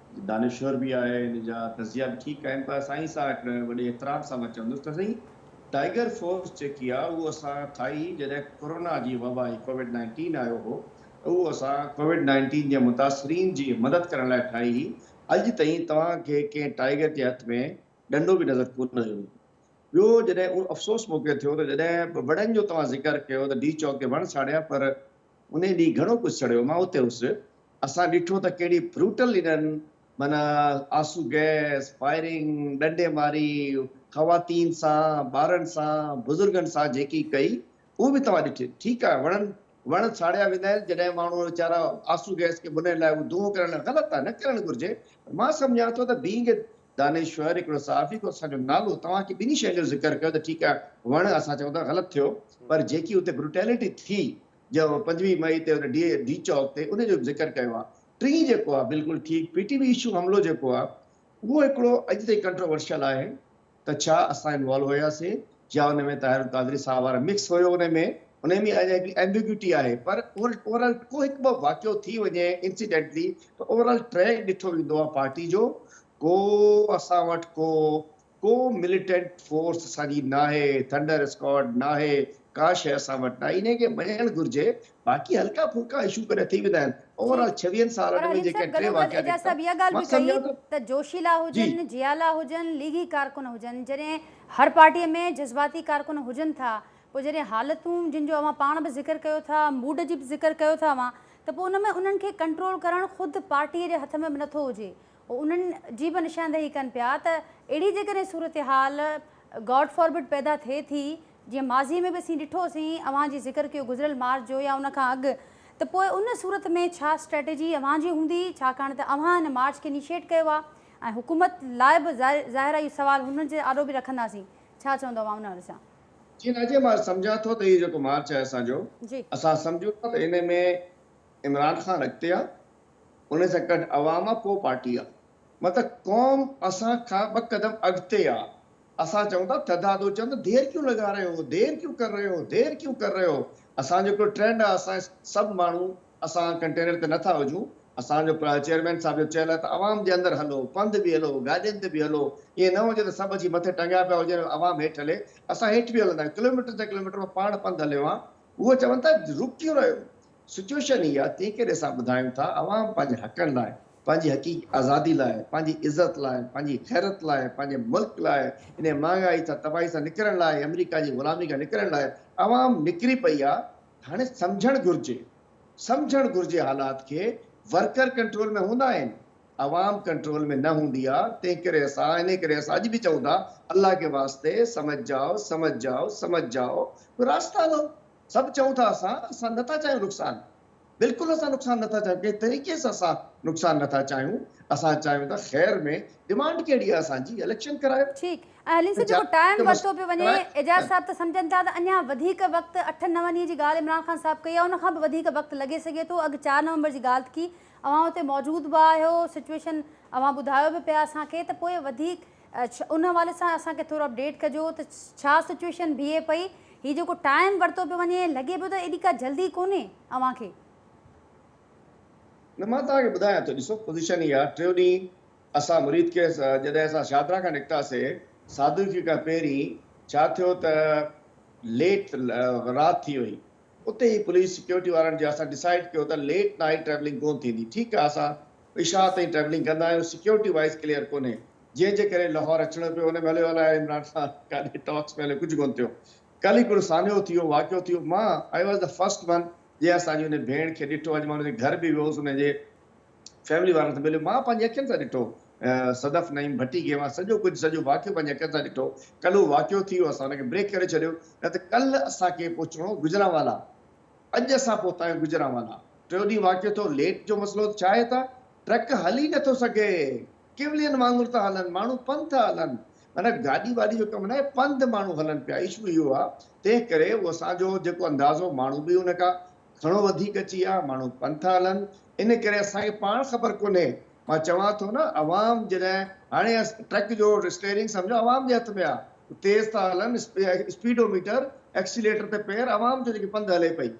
Speaker 3: دانشور به آهي ان جا تجزيا به ٺيڪ آهن پر اسان هي ساهه کڻي وڏي احترام سان مان چوندس ته سائين ٽائيگر فورس جيڪي آهي اهو اسان ٺاهي جڏهن ڪورونا جي وبا هي ڪووڊ نائنٽين آيو هو ته اهو اسان ڪووڊ نائنٽين جي متاثرين جي مدد ڪرڻ لاء ٺاهي هي اڄ تائين توهان کي ڪنهن ٽائيگر جي هٿ ۾ ڏنڊو به نظر ڪونه ايو هوندو ٻيو جڏهن اهو افسوس مونکي ٿيو ته جڏهن وڙن جو توهان ذڪر ڪيو ته ڊي چوڪ تي وڻ ساڙيا پر انهي ڏينهن گهڻو ڪجهه سڙيو، مان اتي هوس، اسان ڏٺو ته ڪهڙي Brutal انهن معنيٰ آسو گئس، فائرنگ، ڏنڊي ماري، خواتين سان، ٻارن سان، بزرگن سان جيڪي ڪئي، اهو به توهان ڏٺي. ٺيڪ آهي، وڻن وڻ ساڙيا ويندا آهن، جڏهن ماڻهو ويچارا آسو گئس کي ڀنئڻ لاء اهو دونهون ڪرڻ لاء غلط آهي، نه ڪرڻ گهرجي، پر مان سمجهان ٿو ته Being a دانشور هڪڙو صحافي ڪو اسان جو نالو توهان کي ٻنهي شين جو ذڪر ڪيو ته ٺيڪ آهي وڻ اسان چئون ٿا غلط ٿيو پر جيڪي اتي بروٽيلٽي ٿي جو پنجويهه مئي تي ان ڊي ڊي چوڪ تي ان جو به ذڪر ڪيو آهي ٽين جيڪو آهي بلڪل ٺيڪ پي ٽي وي اشو حملو جيڪو آهي اهو هڪڙو اڄ تائين ڪنٽروورشل آهي ته ڇا اسان انوالو هياسين جا ان ۾ طاهر القادري صاحب وارا مڪس هيو ان ۾ انهي ۾ اهي هڪ ايمبيگيوٽي آهي پر اوور آل ڪو هڪ ٻه واقعو ٿي وڃي انسيڊنٽلي ته اوور آل ٽريڪ ڏٺو ويندو آهي پارٽي جو ڪو اسان وٽ ڪو ڪو مليٽنٽ فورس اسان جي ناهي ٿنڊر اسڪواڊ ناهي ڪا شيء اسان وٽ ناهي انهي کي مڃڻ گهرجي باقي هلڪا ڦلڪا اشو ڪڏهن ٿي ويندا آهن اوور آل ڇويهن سالن ۾ جيڪي ٽي واقعا نڪتا مان سمجهان
Speaker 1: ٿو ته جوشيلا هجن جيالا هجن ليگي ڪارڪن هجن جڏهن هر پارٽي ۾ جذباتي ڪارڪن هجن ٿا پوء جڏهن حالتون جن جو اوهان پاڻ به ذڪر ڪيو ٿا موڊ جي به ذڪر ڪيو ٿا اوهان ته پوء ان ۾ انهن کي ڪنٽرول ڪرڻ خود پارٽي جي هٿ ۾ به نٿو هجي هو انهن جي به نشاندهي ڪن پيا ته اهڙي جيڪڏهن صورتحال گاڊ فاربڊ پيدا ٿئي ٿي جيئن ماضيء ۾ به اسين ڏٺو سين، اوهان جي ذڪر ڪيو گذريل مارچ جو يا ان کان اڳ، ته پوء ان صورت ۾ ڇا اسٽريٽجي اوهان جي هوندي، ڇاڪاڻ ته اوهان ان مارچ کي انيشيئيٽ ڪيو آهي ۽ حڪومت لاء به ظاهر آهي اهو سوال هن جي آڏو به رکنداسين، ڇا چوندو اوهان ان حوالي سان؟ جي نه جي مان
Speaker 3: سمجهان ٿو ته هي جيڪو مارچ آهي اسان جو، جي. اسان سمجهون ٿا ته ان ۾ عمران خان اڳتي آهي. ان سان گڏ عوام ڪو پارٽي آ مطلب قوم اسان کان ٻه قدم اڳتي آ اسان چئون ٿا ٿڌا دو چند دير ڪيون لگا رهي هو دير ڪيون ڪر رهي هو دير ڪيون ڪر رهي هو اسان جو هڪڙو ٽرينڊ آ اسان سڀ ماڻهو اسان ڪنٽينر تي نه ٿا هجون اسان جو چيئرمين صاحب جو چيل آ ته عوام جي اندر هلو پنڌ به هلو گاڏين تي به هلو ائين نه هجي ته سڀ اچي مٿي ٽنگيا پيا هجن عوام هيٺ هلي اسان هيٺ به هلندا آهيون ڪلوميٽرن تي ڪلوميٽر مان پاڻ پنڌ هليو آ هو چون ٿا رڪ ڪيون رهي هو سچوئيشن هي آهي تنهن ڪري اسان ٻڌايون ٿا عوام پنهنجي حقن لاء، پنهنجي حقيقي آزادي لاء، پنهنجي عزت لاء، پنهنجي غيرت لاء، پنهنجي ملڪ لاء، انهي مهانگائي سان تباهي سان نڪرڻ لاء، آمريڪا جي غلامي کان نڪرڻ لاء عوام نڪري پئي آ. هاڻي سمجهڻ گهرجي سمجهڻ گهرجي حالات کي ورڪر ڪنٽرول ۾ هوندا آهن عوام ڪنٽرول ۾ نه هوندي آ تنهن ڪري اسان انهي ڪري اسان اڄ به چئون ٿا الله ڪي واسطي سمجهجاء سمجهجاء سمجهجاء ڪو راستالو سڀ چئون ٿا اسان، اسان نه ٿا چاهيون نقصان، بلڪل اسان نقصان نه ٿا چاهيون، ڪنهن طريقي سان اسان نقصان نه ٿا چاهيون، اسان چاهيون ٿا خير ۾، ڊمانڊ ڪهڙي آهي اسان جي اليڪشن ڪرايو. ٺيڪ ۽ حليم صاحب
Speaker 1: جيڪو ٽائيم ورتو پيو وڃي اعجاز صاحب ته سمجهن ٿا ته اڃان وڌيڪ وقت اٺن نون ڏينهن جي ڳالهه عمران خان صاحب ڪئي آهي ان کان به وڌيڪ وقت لڳي سگهي ٿو اڳ چار نومبر جي ڳالهه ٿي اوهان اتي موجود به آهيو سچويشن اوهان ٻڌايو به پيا اسان کي ته پوء وڌيڪ اچھا ان حوالي سان اسان کي ٿورو اپڊيٽ ڪجو ته ڇا سچوئيشن بيهي پئي هي جيڪو ٽائيم ورتو پيو وڃي لڳي پيو ته ايڏي ڪا جلدي ڪونهي اوهان کي. نه مان
Speaker 3: توهان کي ٻڌايان ٿو ڏسو پوزيشن هي آ ٽيو ڏينهن اسان مريد ڪيس جڏهن اسان شاهدرا کان نڪتاسي سادوخي کان پهرين ڇا ٿيو ته ليٽ رات ٿي وئي اتي هي پوليس سيڪيورٽي وارن جي اسان ڊسائيڊ ڪيو ته ليٽ نائيٽ ٽريولنگ ڪون ٿيندي ٺيڪ آ اسان عشاء تائين ٽريولنگ ڪندا آهيون سيڪيورٽي وائيز ڪليئر ڪونهي جنهن جي ڪري لاهور اچڻو پيو ان ۾ هليو الاهي عمران سان ڪاڏي ٽاڪس ۾ هليو ڪجهه ڪونه ٿيو ڪل ئي ڪڙو سانحو ٿيو واقعو ٿيو مان I was the first one جنهن اسان جي ان ڀيڻ کي ڏٺو اڄ مان ان جي گهر به ويو هوس ان جي فيملي وارن سان مليو مان پنهنجي اکين سان ڏٺو صدف نعيم ڀٽي کي مان سڄو ڪجهه سڄو واقعو پنهنجي اکين سان ڏٺو ڪل هو واقعو ٿي ويو اسان ان کي بريڪ ڪري ڇڏيو نه ته ڪل اسان کي پهچڻو هو گجرانوالا اڄ اسان پهتا آهيون گوجرانوالا ٽيون ڏينهن واقعو ٿيو ليٽ جو مسئلو ته ڇاهي ته ٽرڪ هل ئي نٿو سگهي ڪيولين وانگر ٿا هلن ماڻهو پنڌ ٿا هلن معنيٰ گاڏي واڏي جو ڪم ناهي پنڌ ماڻهو هلن پيا اشو اهو آهي تنهن ڪري اهو اسان جو جيڪو انداز هو ماڻهو به ان کان گهڻو وڌيڪ اچي ويا ماڻهو پنڌ ٿا هلن ان ڪري اسان کي پاڻ خبر ڪونهي مان چوان ٿو نه عوام جڏهن هاڻي ٽرڪ جو اسٽيئرنگ سمجهو عوام جي هٿ ۾ آ تيز ٿا هلن اسپيڊو ميٽر ايڪسيليٽر تي پير عوام جو جيڪي پنڌ هلي پئي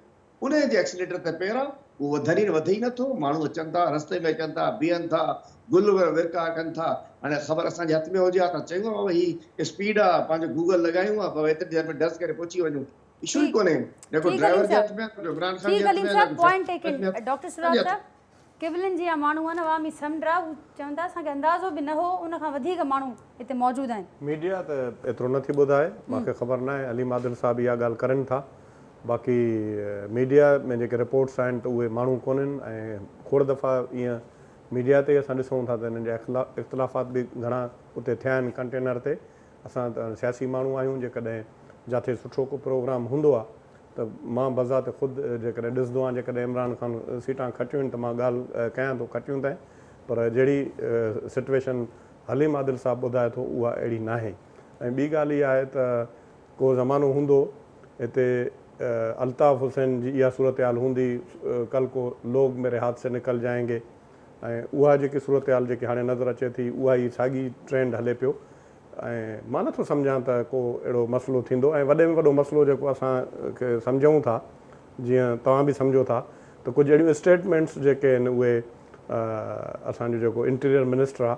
Speaker 3: انهي جي ايڪسيليٽر تي پير آ اهو وڌرين وڌي ئي نه ٿو ماڻهو اچن ٿا رستي ۾ اچن ٿا بيهن ٿا گل ورکا ڪن ٿا هاڻي خبر اسان جي هٿ ۾ هجي ها ته چيون ها هي اسپيڊ آ پنهنجو گوگل لڳايون ها ڀوء ايتري دير ۾ ڊس ڪري پهچي وڃون اشو ئي ڪونهي نه ڪو ڊرائيور جي هٿ ۾ آ نه ڪو عمران خان جي هٿ ۾ آ نه ڪو ڊاڪٽر
Speaker 1: سرار صاحب ڪيولن جيان ماڻهو آهن عوامي سمنڊ آهي هو چون ٿا اسان کي اندازو به نه هو ان کان وڌيڪ ماڻهو هتي موجود آهن. ميڊيا ته ايترو
Speaker 4: نه ٿي ٻڌائي مان کي خبر ناهي عليم عادل صاحب اها ڳالهه ڪرين ٿا باقي ميڊيا ۾ جيڪي رپورٽس آهن ته اهي ماڻهو ڪونهن ۽ کوڙ دفعا ايئن ميڊيا تي اسان ڏسون ٿا ته انهن جا اختلافات به گهڻا اتي ٿيا آهن ڪنٽينر تي اسان ته سياسي ماڻهو آهيون جيڪڏهن جاٿي سٺو ڪو پروگرام هوندو آهي ته مان بذات خود جيڪڏهن ڏسندو آهيان جيڪڏهن عمران خان سيٽان کٽيون آهن ته مان ڳالهه ڪيان ٿو کٽيون ته پر جهڙي سٽويشن حليم عادل صاحب ٻڌائي ٿو اها اهڙي ناهي ۽ ٻي ڳالهه اها آهي ته ڪو زمانو هوندو هتي الطاف حسين جي اها صورتحال هوندي ڪل ڪو لوگ ميري هاٿ سي نڪل جائينگي ۽ اها جيڪي صورتحال جيڪي هاڻي نظر اچي ٿي اها ئي ساڳي ٽرينڊ هلي پيو ۽ مان نه ٿو سمجهان ته ڪو اهڙو مسئلو ٿيندو ۽ وڏي ۾ وڏو مسئلو جيڪو اسان کي سمجهون ٿا جيئن توهان به سمجهو ٿا ته ڪجهه اهڙيون اسٽيٽمينٽس جيڪي آهن اهي اسان جو جيڪو انٽيريئر منسٽر آهي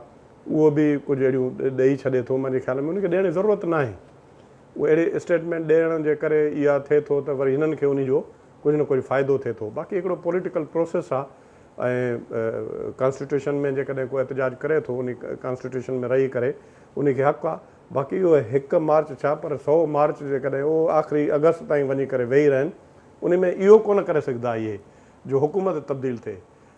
Speaker 4: اهو به ڪجهه اهڙيون ڏئي ڇڏي ٿو مانجي خيال ۾ ان کي ڏيڻ جي ضرورت ناهي اهو اهڙي اسٽيٽمينٽ ڏيڻ جي ڪري اها ٿئي ٿو ته وري هنن کي ان جو ڪجهه نه ڪجهه فائدو ٿئي ٿو باقي هڪڙو پوليٽيڪل پروسيس آهي ۽ ڪانسٽيٽيوشن ۾ جيڪڏهن ڪو احتجاج ڪري ٿو انهي ڪانسٽيٽيوشن ۾ رهي ڪري انهي کي حق آ باقي اهي هڪ مارچ ڇا پر سئو مارچ جيڪڏهن اهو آخري اگست تائين وڃي ڪري ويهي رهن انهي ۾ اهو ڪونه ڪري سگهدا اهي جو حڪومت تبديل ٿئي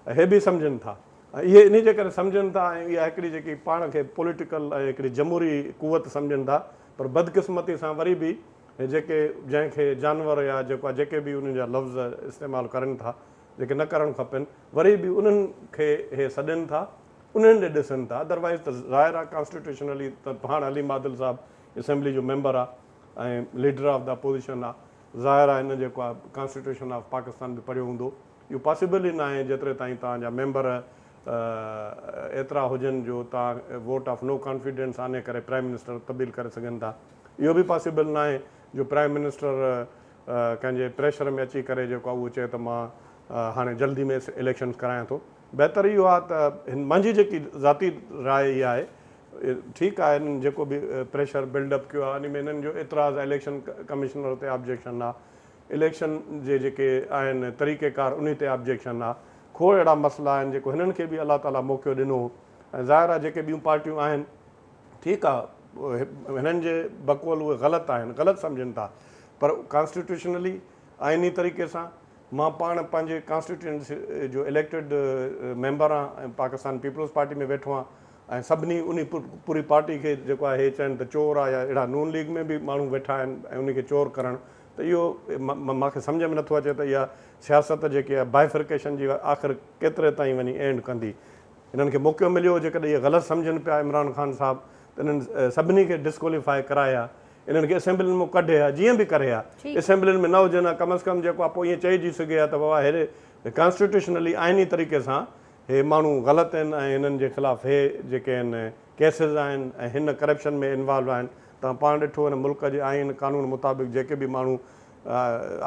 Speaker 4: اهي به سمجهن ٿا ۽ اهي انهي جي ڪري سمجهن ٿا ۽ اها هڪڙي جيڪي پاڻ کي پوليٽيڪل ۽ هڪڙي جمهوري قوت سمجهن ٿا پر بدقسمتي سان وري به جيڪي جنهن کي جانور يا جيڪو آ جيڪي به انهي جا لفظ استعمال ڪرن ٿا جيڪي نه ڪرڻ کپين وري به انهن کي اهي سڏين ٿا انهن ڏي ڏسن ٿا ادروائيز ته ظاهر آهي ڪانسٽيٽيوشنلي ته پاڻ عليم عادل صاحب اسيمبلي جو ميمبر آهي ۽ ليڊر آف دا اپوزيشن آهي ظاهر آهي هن جيڪو آهي ڪانسٽيٽيوشن آف پاڪستان به پڙهيو هوندو اهو پاسيبل ئي ناهي جيتري تائين توهان جا ميمبر ايترا هجن جو توهان ووٽ آف نو ڪانفيڊنس آني ڪري پرائيم منسٽر تبديل ڪري سگهن ٿا اهو به پاسيبل ناهي جو پرائيم منسٽر ڪنهن جي پريشر ۾ اچي ڪري جيڪو آهي اهو چئي ته مان هاڻي جلدي ۾ اليڪشنز ڪرايان ٿو بهتر اهو آهي ته هن منهنجي جيڪي ذاتي راء اها آهي ٺيڪ آهي هنن جيڪو به پريشر بلڊ اپ ڪيو آهي ان ۾ هنن جو اعتراض اليڪشن ڪمشنر تي آبجيڪشن آهي اليڪشن جي جيڪي آهن طريقه ڪار انهي تي آبجيڪشن آهي کوڙ اهڙا مسئلا آهن جيڪو هنن کي به الله تعالي موقعو ڏنو هو ۽ ظاهر آهي جيڪي ٻيون پارٽيون آهن ٺيڪ آ هنن جي بقول اهي غلط آهن غلط سمجهن ٿا پر ڪانسٽيٽيوشنلي آئيني طريقي سان مان پاڻ پنهنجي ڪانسٽيٽيوئنسي جو اليڪٽيڊ ميمبر آهن ۽ پاڪستان پيپلز پارٽي ۾ ويٺو آهن ۽ سڀني انهي پوري پارٽي کي جيڪو آهي هي چين ته چور آ يا اهڙا نون ليگ ۾ به ماڻهو ويٺا آهن ۽ انهي کي چور ڪرڻ ته اهو مان کي سمجهه ۾ نٿو اچي ته اها سياست جيڪي آهي بائفرڪيشن جي آخر ڪيتري تائين وڃي اينڊ ڪندي انهن کي موقعو مليو جيڪڏهن اهي غلط سمجهن پيا عمران خان صاحب ته انهن سڀني کي ڊسڪواليفاء ڪرائي ها انهن کي اسيمبلين مون ڪڍي ها جيئن به ڪري ها اسيمبلين ۾ نه هجن ها ڪم از ڪم جيڪو ها پوء ايئن چئجي سگهي ها ته بابا هي ڪانسٽيٽيوشنلي آئيني طريقي سان هي ماڻهو غلط آهن ۽ هنن جي خلاف هي جيڪي آهن ڪيسز آهن ۽ هن ڪرپشن ۾ انوالو آهن توهان پاڻ ڏٺو هن ملڪ جي آئين قانون مطابق جيڪي به ماڻهو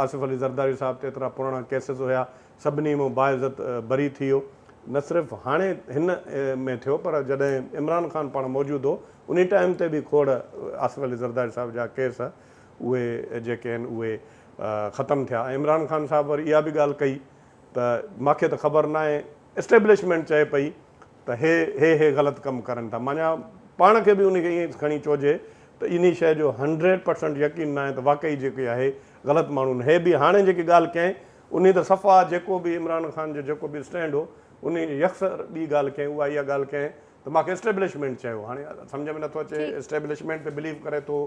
Speaker 4: آصف علي زرداري صاحب تي ايترا پراڻا ڪيسز هيا سڀني مون باعزت بري ٿي ويو. نه صرف هاڻي هن ۾ ٿيو پر جڏهن عمران خان پاڻ موجود هو انهي ٽائيم تي به کوڙ آصف علي زرداري صاحب جا ڪيس اهي جيڪي آهن اهي ختم ٿيا ۽ عمران خان صاحب وري اها به ڳالهه ڪئي ته ماکي ته خبر ناهي اسٽيبلشمينٽ چئي پئي ته هي هي هي غلط ڪم ڪرن ٿا معنيٰ پاڻ کي به انهي کي ائين کڻي چئجي ته انهي شئي جو هنڊريڊ پرسنٽ يقين ناهي ته واقعي جيڪي آهي غلط ماڻهون هي به هاڻي جيڪي ڳالهه ڪئين انهي ته صفا جيڪو به عمران خان جو جيڪو به اسٽينڊ هو انهي جي يڪسر ٻي ڳالهه ڪئين اها اها ڳالهه ڪئين ته ماکي اسٽيبلشمينٽ چيو هاڻي سمجهه ۾ نٿو اچي ٺيڪ. اسٽيبلشمينٽ تي بليو ڪري ٿو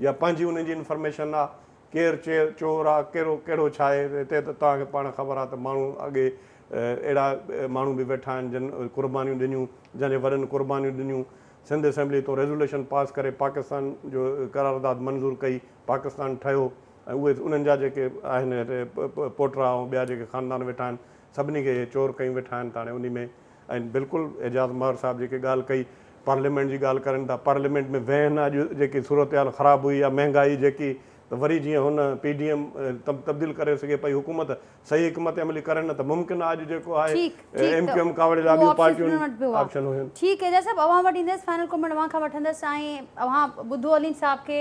Speaker 4: يا پنهنجي انهي جي انفرميشن آ ڪير چير چور آ ڪهڙو ڪهڙو ڇا آهي هتي ته توهان کي پاڻ خبر آ ته ماڻهو اڳي اهڙا ماڻهو به ويٺا آهن جن قربانيون ڏنيون جن جي وڏن قربانيون ڏنيون سنڌ اسيمبلي تو ريزوليشن پاس ڪري پاڪستان جو قرارداد منظور ڪئي پاڪستان ٺهيو ۽ اهي انهن جا جيڪي آهن هتي پوٽرا ۽ ٻيا جيڪي خاندان ويٺا آهن سڀني کي اهي چور ڪيون ويٺا آهن ته هاڻي انهي ۾ ۽ بلڪل اعجاز ماهر صاحب جيڪي ڳالهه ڪئي پارليامينٽ جي ڳالهه ڪرين ٿا پارليامينٽ ۾ ويهن اڄ جيڪي صورتحال خراب هئي يا مهنگائي جيڪي ته وري جيئن هن پي ڊي ايم تبديل ڪري سگهي پئي حڪومت صحيح حڪمت عملي ڪري نه ته ممڪن آهي اڄ جيڪو آهي ٺيڪ ٺيڪ ايم ته ڪيو ايم ڪاوڙي لاء اهو ٻيون آپشنس پارٽيون هنن وٽ به هئا آپشن هيون. ٺيڪ اعجاز صاحب اوهان وٽ
Speaker 1: ايندس فائنل ڪمينٽ اوهان کان وٺندس ۽ اوهان ٻڌو عليم صاحب کي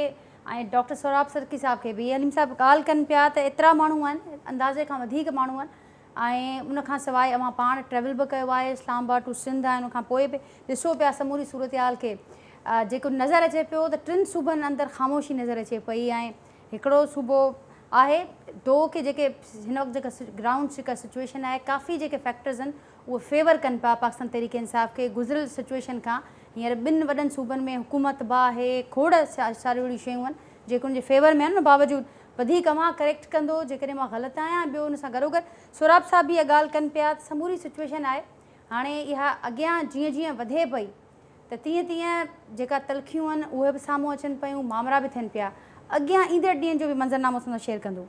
Speaker 1: ۽ ڊاڪٽر سهراب سرڪي صاحب کي به عليم صاحب ڳالهه ڪن پيا ته ايترا ماڻهو آهن اندازي کان وڌيڪ ماڻهو آهن ۽ ان کان سواء اوهان پاڻ ٽريول به ڪيو آهي اسلام آباد ٽو سنڌ ۽ ان کان پوء به ڏسو پيا سموري صورتحال کي جيڪو نظر اچي پيو ته ٽن صوبن اندر خاموشي نظر اچي پئي ۽ هڪڙو صوبو آهي دو کي جيڪي هن وقت جيڪا گرائونڊ جيڪا سچويشن آهي ڪافي جيڪي فيڪٽرز آهن اهي فيور ڪن پيا پاڪستان تحريڪ انصاف کي گذريل سچوئيشن کان هينئر ٻن وڏن صوبن ۾ حڪومت با هي کوڙ ساريون اهڙيون شيون آهن جيڪي ان جي فيور ۾ آهن ان باوجود وڌيڪ اوهان ڪريڪٽ ڪندو جيڪڏهن مان غلط آهيان ۽ ٻيو ان سان گڏوگڏ سهراب صاحب به اها ڳالهه ڪن پيا ته سموري سچوئيشن آهي هاڻي اها اڳيان جيئن جيئن وڌي پئي ته تيئن تيئن جيڪا تلخيون آهن اهي به سامهون اچن پيون مامرا به ٿين پيا اڳيان ايندڙ ڏينهن جو به منظرنامو اسان سان شيئر ڪندو.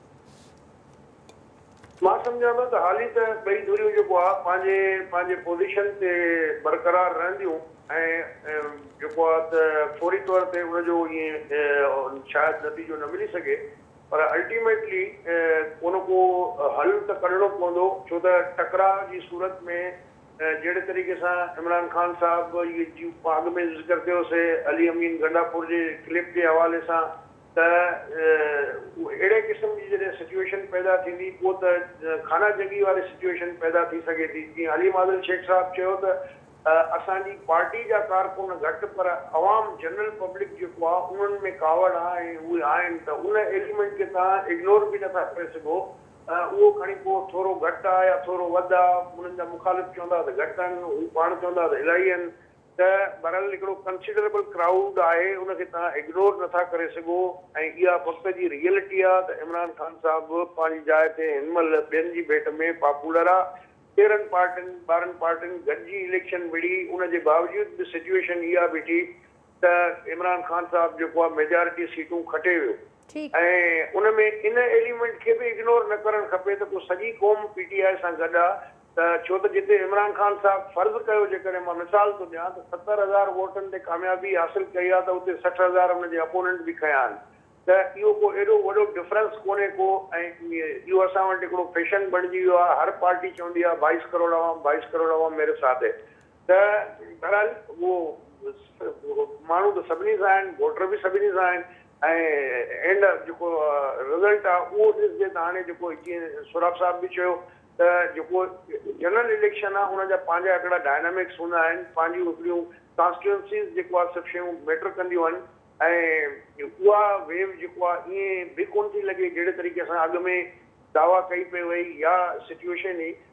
Speaker 2: مان سمجهان ٿو ته هالي ته ٻئي ڌريون جيڪو آهي پنهنجي پنهنجي پوزيشن تي برقرار رهنديون ۽ جيڪو آهي ته فوري طور تي ان جو ائين شايد نتيجو نه ملي سگهي پر الٽيميٽلي ڪو نه ڪو حل ته ڪڍڻو پوندو ڇو ته ٽڪراء جي صورت ۾ جهڙي طريقي سان عمران خان صاحب جيون اڳ ۾ ذڪر ڪيو سي علي امين گنڊاپور جي ڪلپ جي حوالي سان ته اهڙي قسم جي جڏهن سچوئيشن پيدا ٿيندي پوء ته خانه جنگي واري سچوئيشن پيدا ٿي سگهي ٿي جيئن علي معذل شيخ صاحب چيو ته اسان جي پارٽي جا ڪارڪن گهٽ پر عوام جنرل پبلڪ جيڪو آهي انهن ۾ ڪاوڙ آهي ۽ اهي آهن ته ان ايليمنٽ کي توهان اگنور به نٿا ڪري سگهو اهو کڻي پوء ٿورو گهٽ آهي يا ٿورو وڌ آهي انهن جا مخالف چوندا ته گهٽ آهن هو پاڻ چوندا ته الاهي آهن ته بهرحال هڪڙو ڪنسيڊريبل ڪرائوڊ آهي ان کي توهان اگنور نٿا ڪري سگهو ۽ اها وقت جي ريئلٽي آهي ته عمران خان صاحب پنهنجي جاء تي هن مهل ٻين جي ڀيٽ ۾ پاپولر آهي تيرهن پارٽين ٻارهن پارٽين گڏجي اليڪشن وڙهي ان جي باوجود به سچوئيشن اها بيٺي ته عمران خان صاحب جيڪو آهي ميجارٽي سيٽون کٽي ويو. ۽ ان ۾ ان ايليمينٽ کي به اگنور نه ڪرڻ کپي ته پوء سڄي قوم پي ٽي آء سان گڏ آ ته ڇو ته جتي عمران خان صاحب فرض ڪيو جيڪڏهن مان مثال ٿو ڏيان ته ستر هزار ووٽن تي ڪاميابي حاصل ڪئي آ ته اتي سٺ هزار ان جي اپوننٽ به کنيا آهن ته اهو ڪو ايڏو وڏو ڊفرنس ڪونهي ڪو ۽ اهو اسان وٽ هڪڙو فيشن بڻجي ويو آ هر پارٽي چوندي آ بائيس ڪروڙ عوام بائيس ڪروڙ عوام ميري ساٿ هي ته بهرحال اهو ماڻهو ته سڀني سان آهن، ووٽر به سڀني سان آهن ۽ اينڊ جيڪو رزلٽ آهي اهو ڏسجي ته هاڻي جيڪو جيئن سهراب صاحب به چيو ته جيڪو جنرل اليڪشن آهي ان جا پنهنجا هڪڙا ڊائنامڪس هوندا آهن، پنهنجيون هڪڙيون ڪانسٽيوئنسيز جيڪو آهي سڀ شيون ميٽر ڪنديون آهن ۽ اها ويو جيڪو آهي ائين به ڪونه ٿي لڳي جهڙي طريقي سان اڳ ۾ دعويٰ ڪئي پئي وئي يا سچوئيشن هئي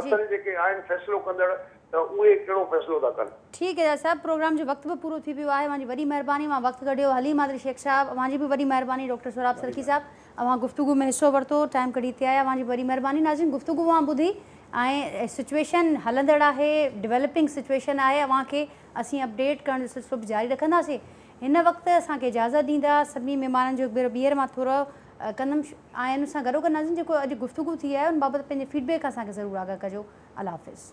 Speaker 1: اصل جيڪي آهن
Speaker 2: فيصلو ڪندڙ ته اهي ڪهڙو فيصلو ٿا ڪن. ٺيڪ ايجاز صاحب پروگرام
Speaker 1: جو وقت به پورو ٿي ويو آهي اوهان جي وڏي مهرباني اوهان وقت ڪڍيو حليم حاضري شيخ صاحب اوهان جي به وڏي مهرباني ڊاڪٽر سهراب سرڪي صاحب اوهان گفتگو ۾ حصو ورتو ٽائيم ڪڍي هتي آيا اوهان جي به وڏي مهرباني ناظرين گفتگو اوهان ٻڌي ۽ سچويشن هلندڙ آهي ڊويلپنگ سچويشن آهي اوهان کي اسين اپڊيٽ ڪرڻ جو سلسلو به جاري رکنداسين هن وقت اسان کي اجازت ڏيندا سڀني مهمانن جو هڪ ڀيرو ٻيهر مان ٿورو ڪندم آئين سان گڏوگڏ ناظرين جيڪو اڄ گفتگو ٿي آهي ان بابت پنهنجي فيڊ بيڪ اسان کي ضرور آگاهه ڪجو الله حافظ.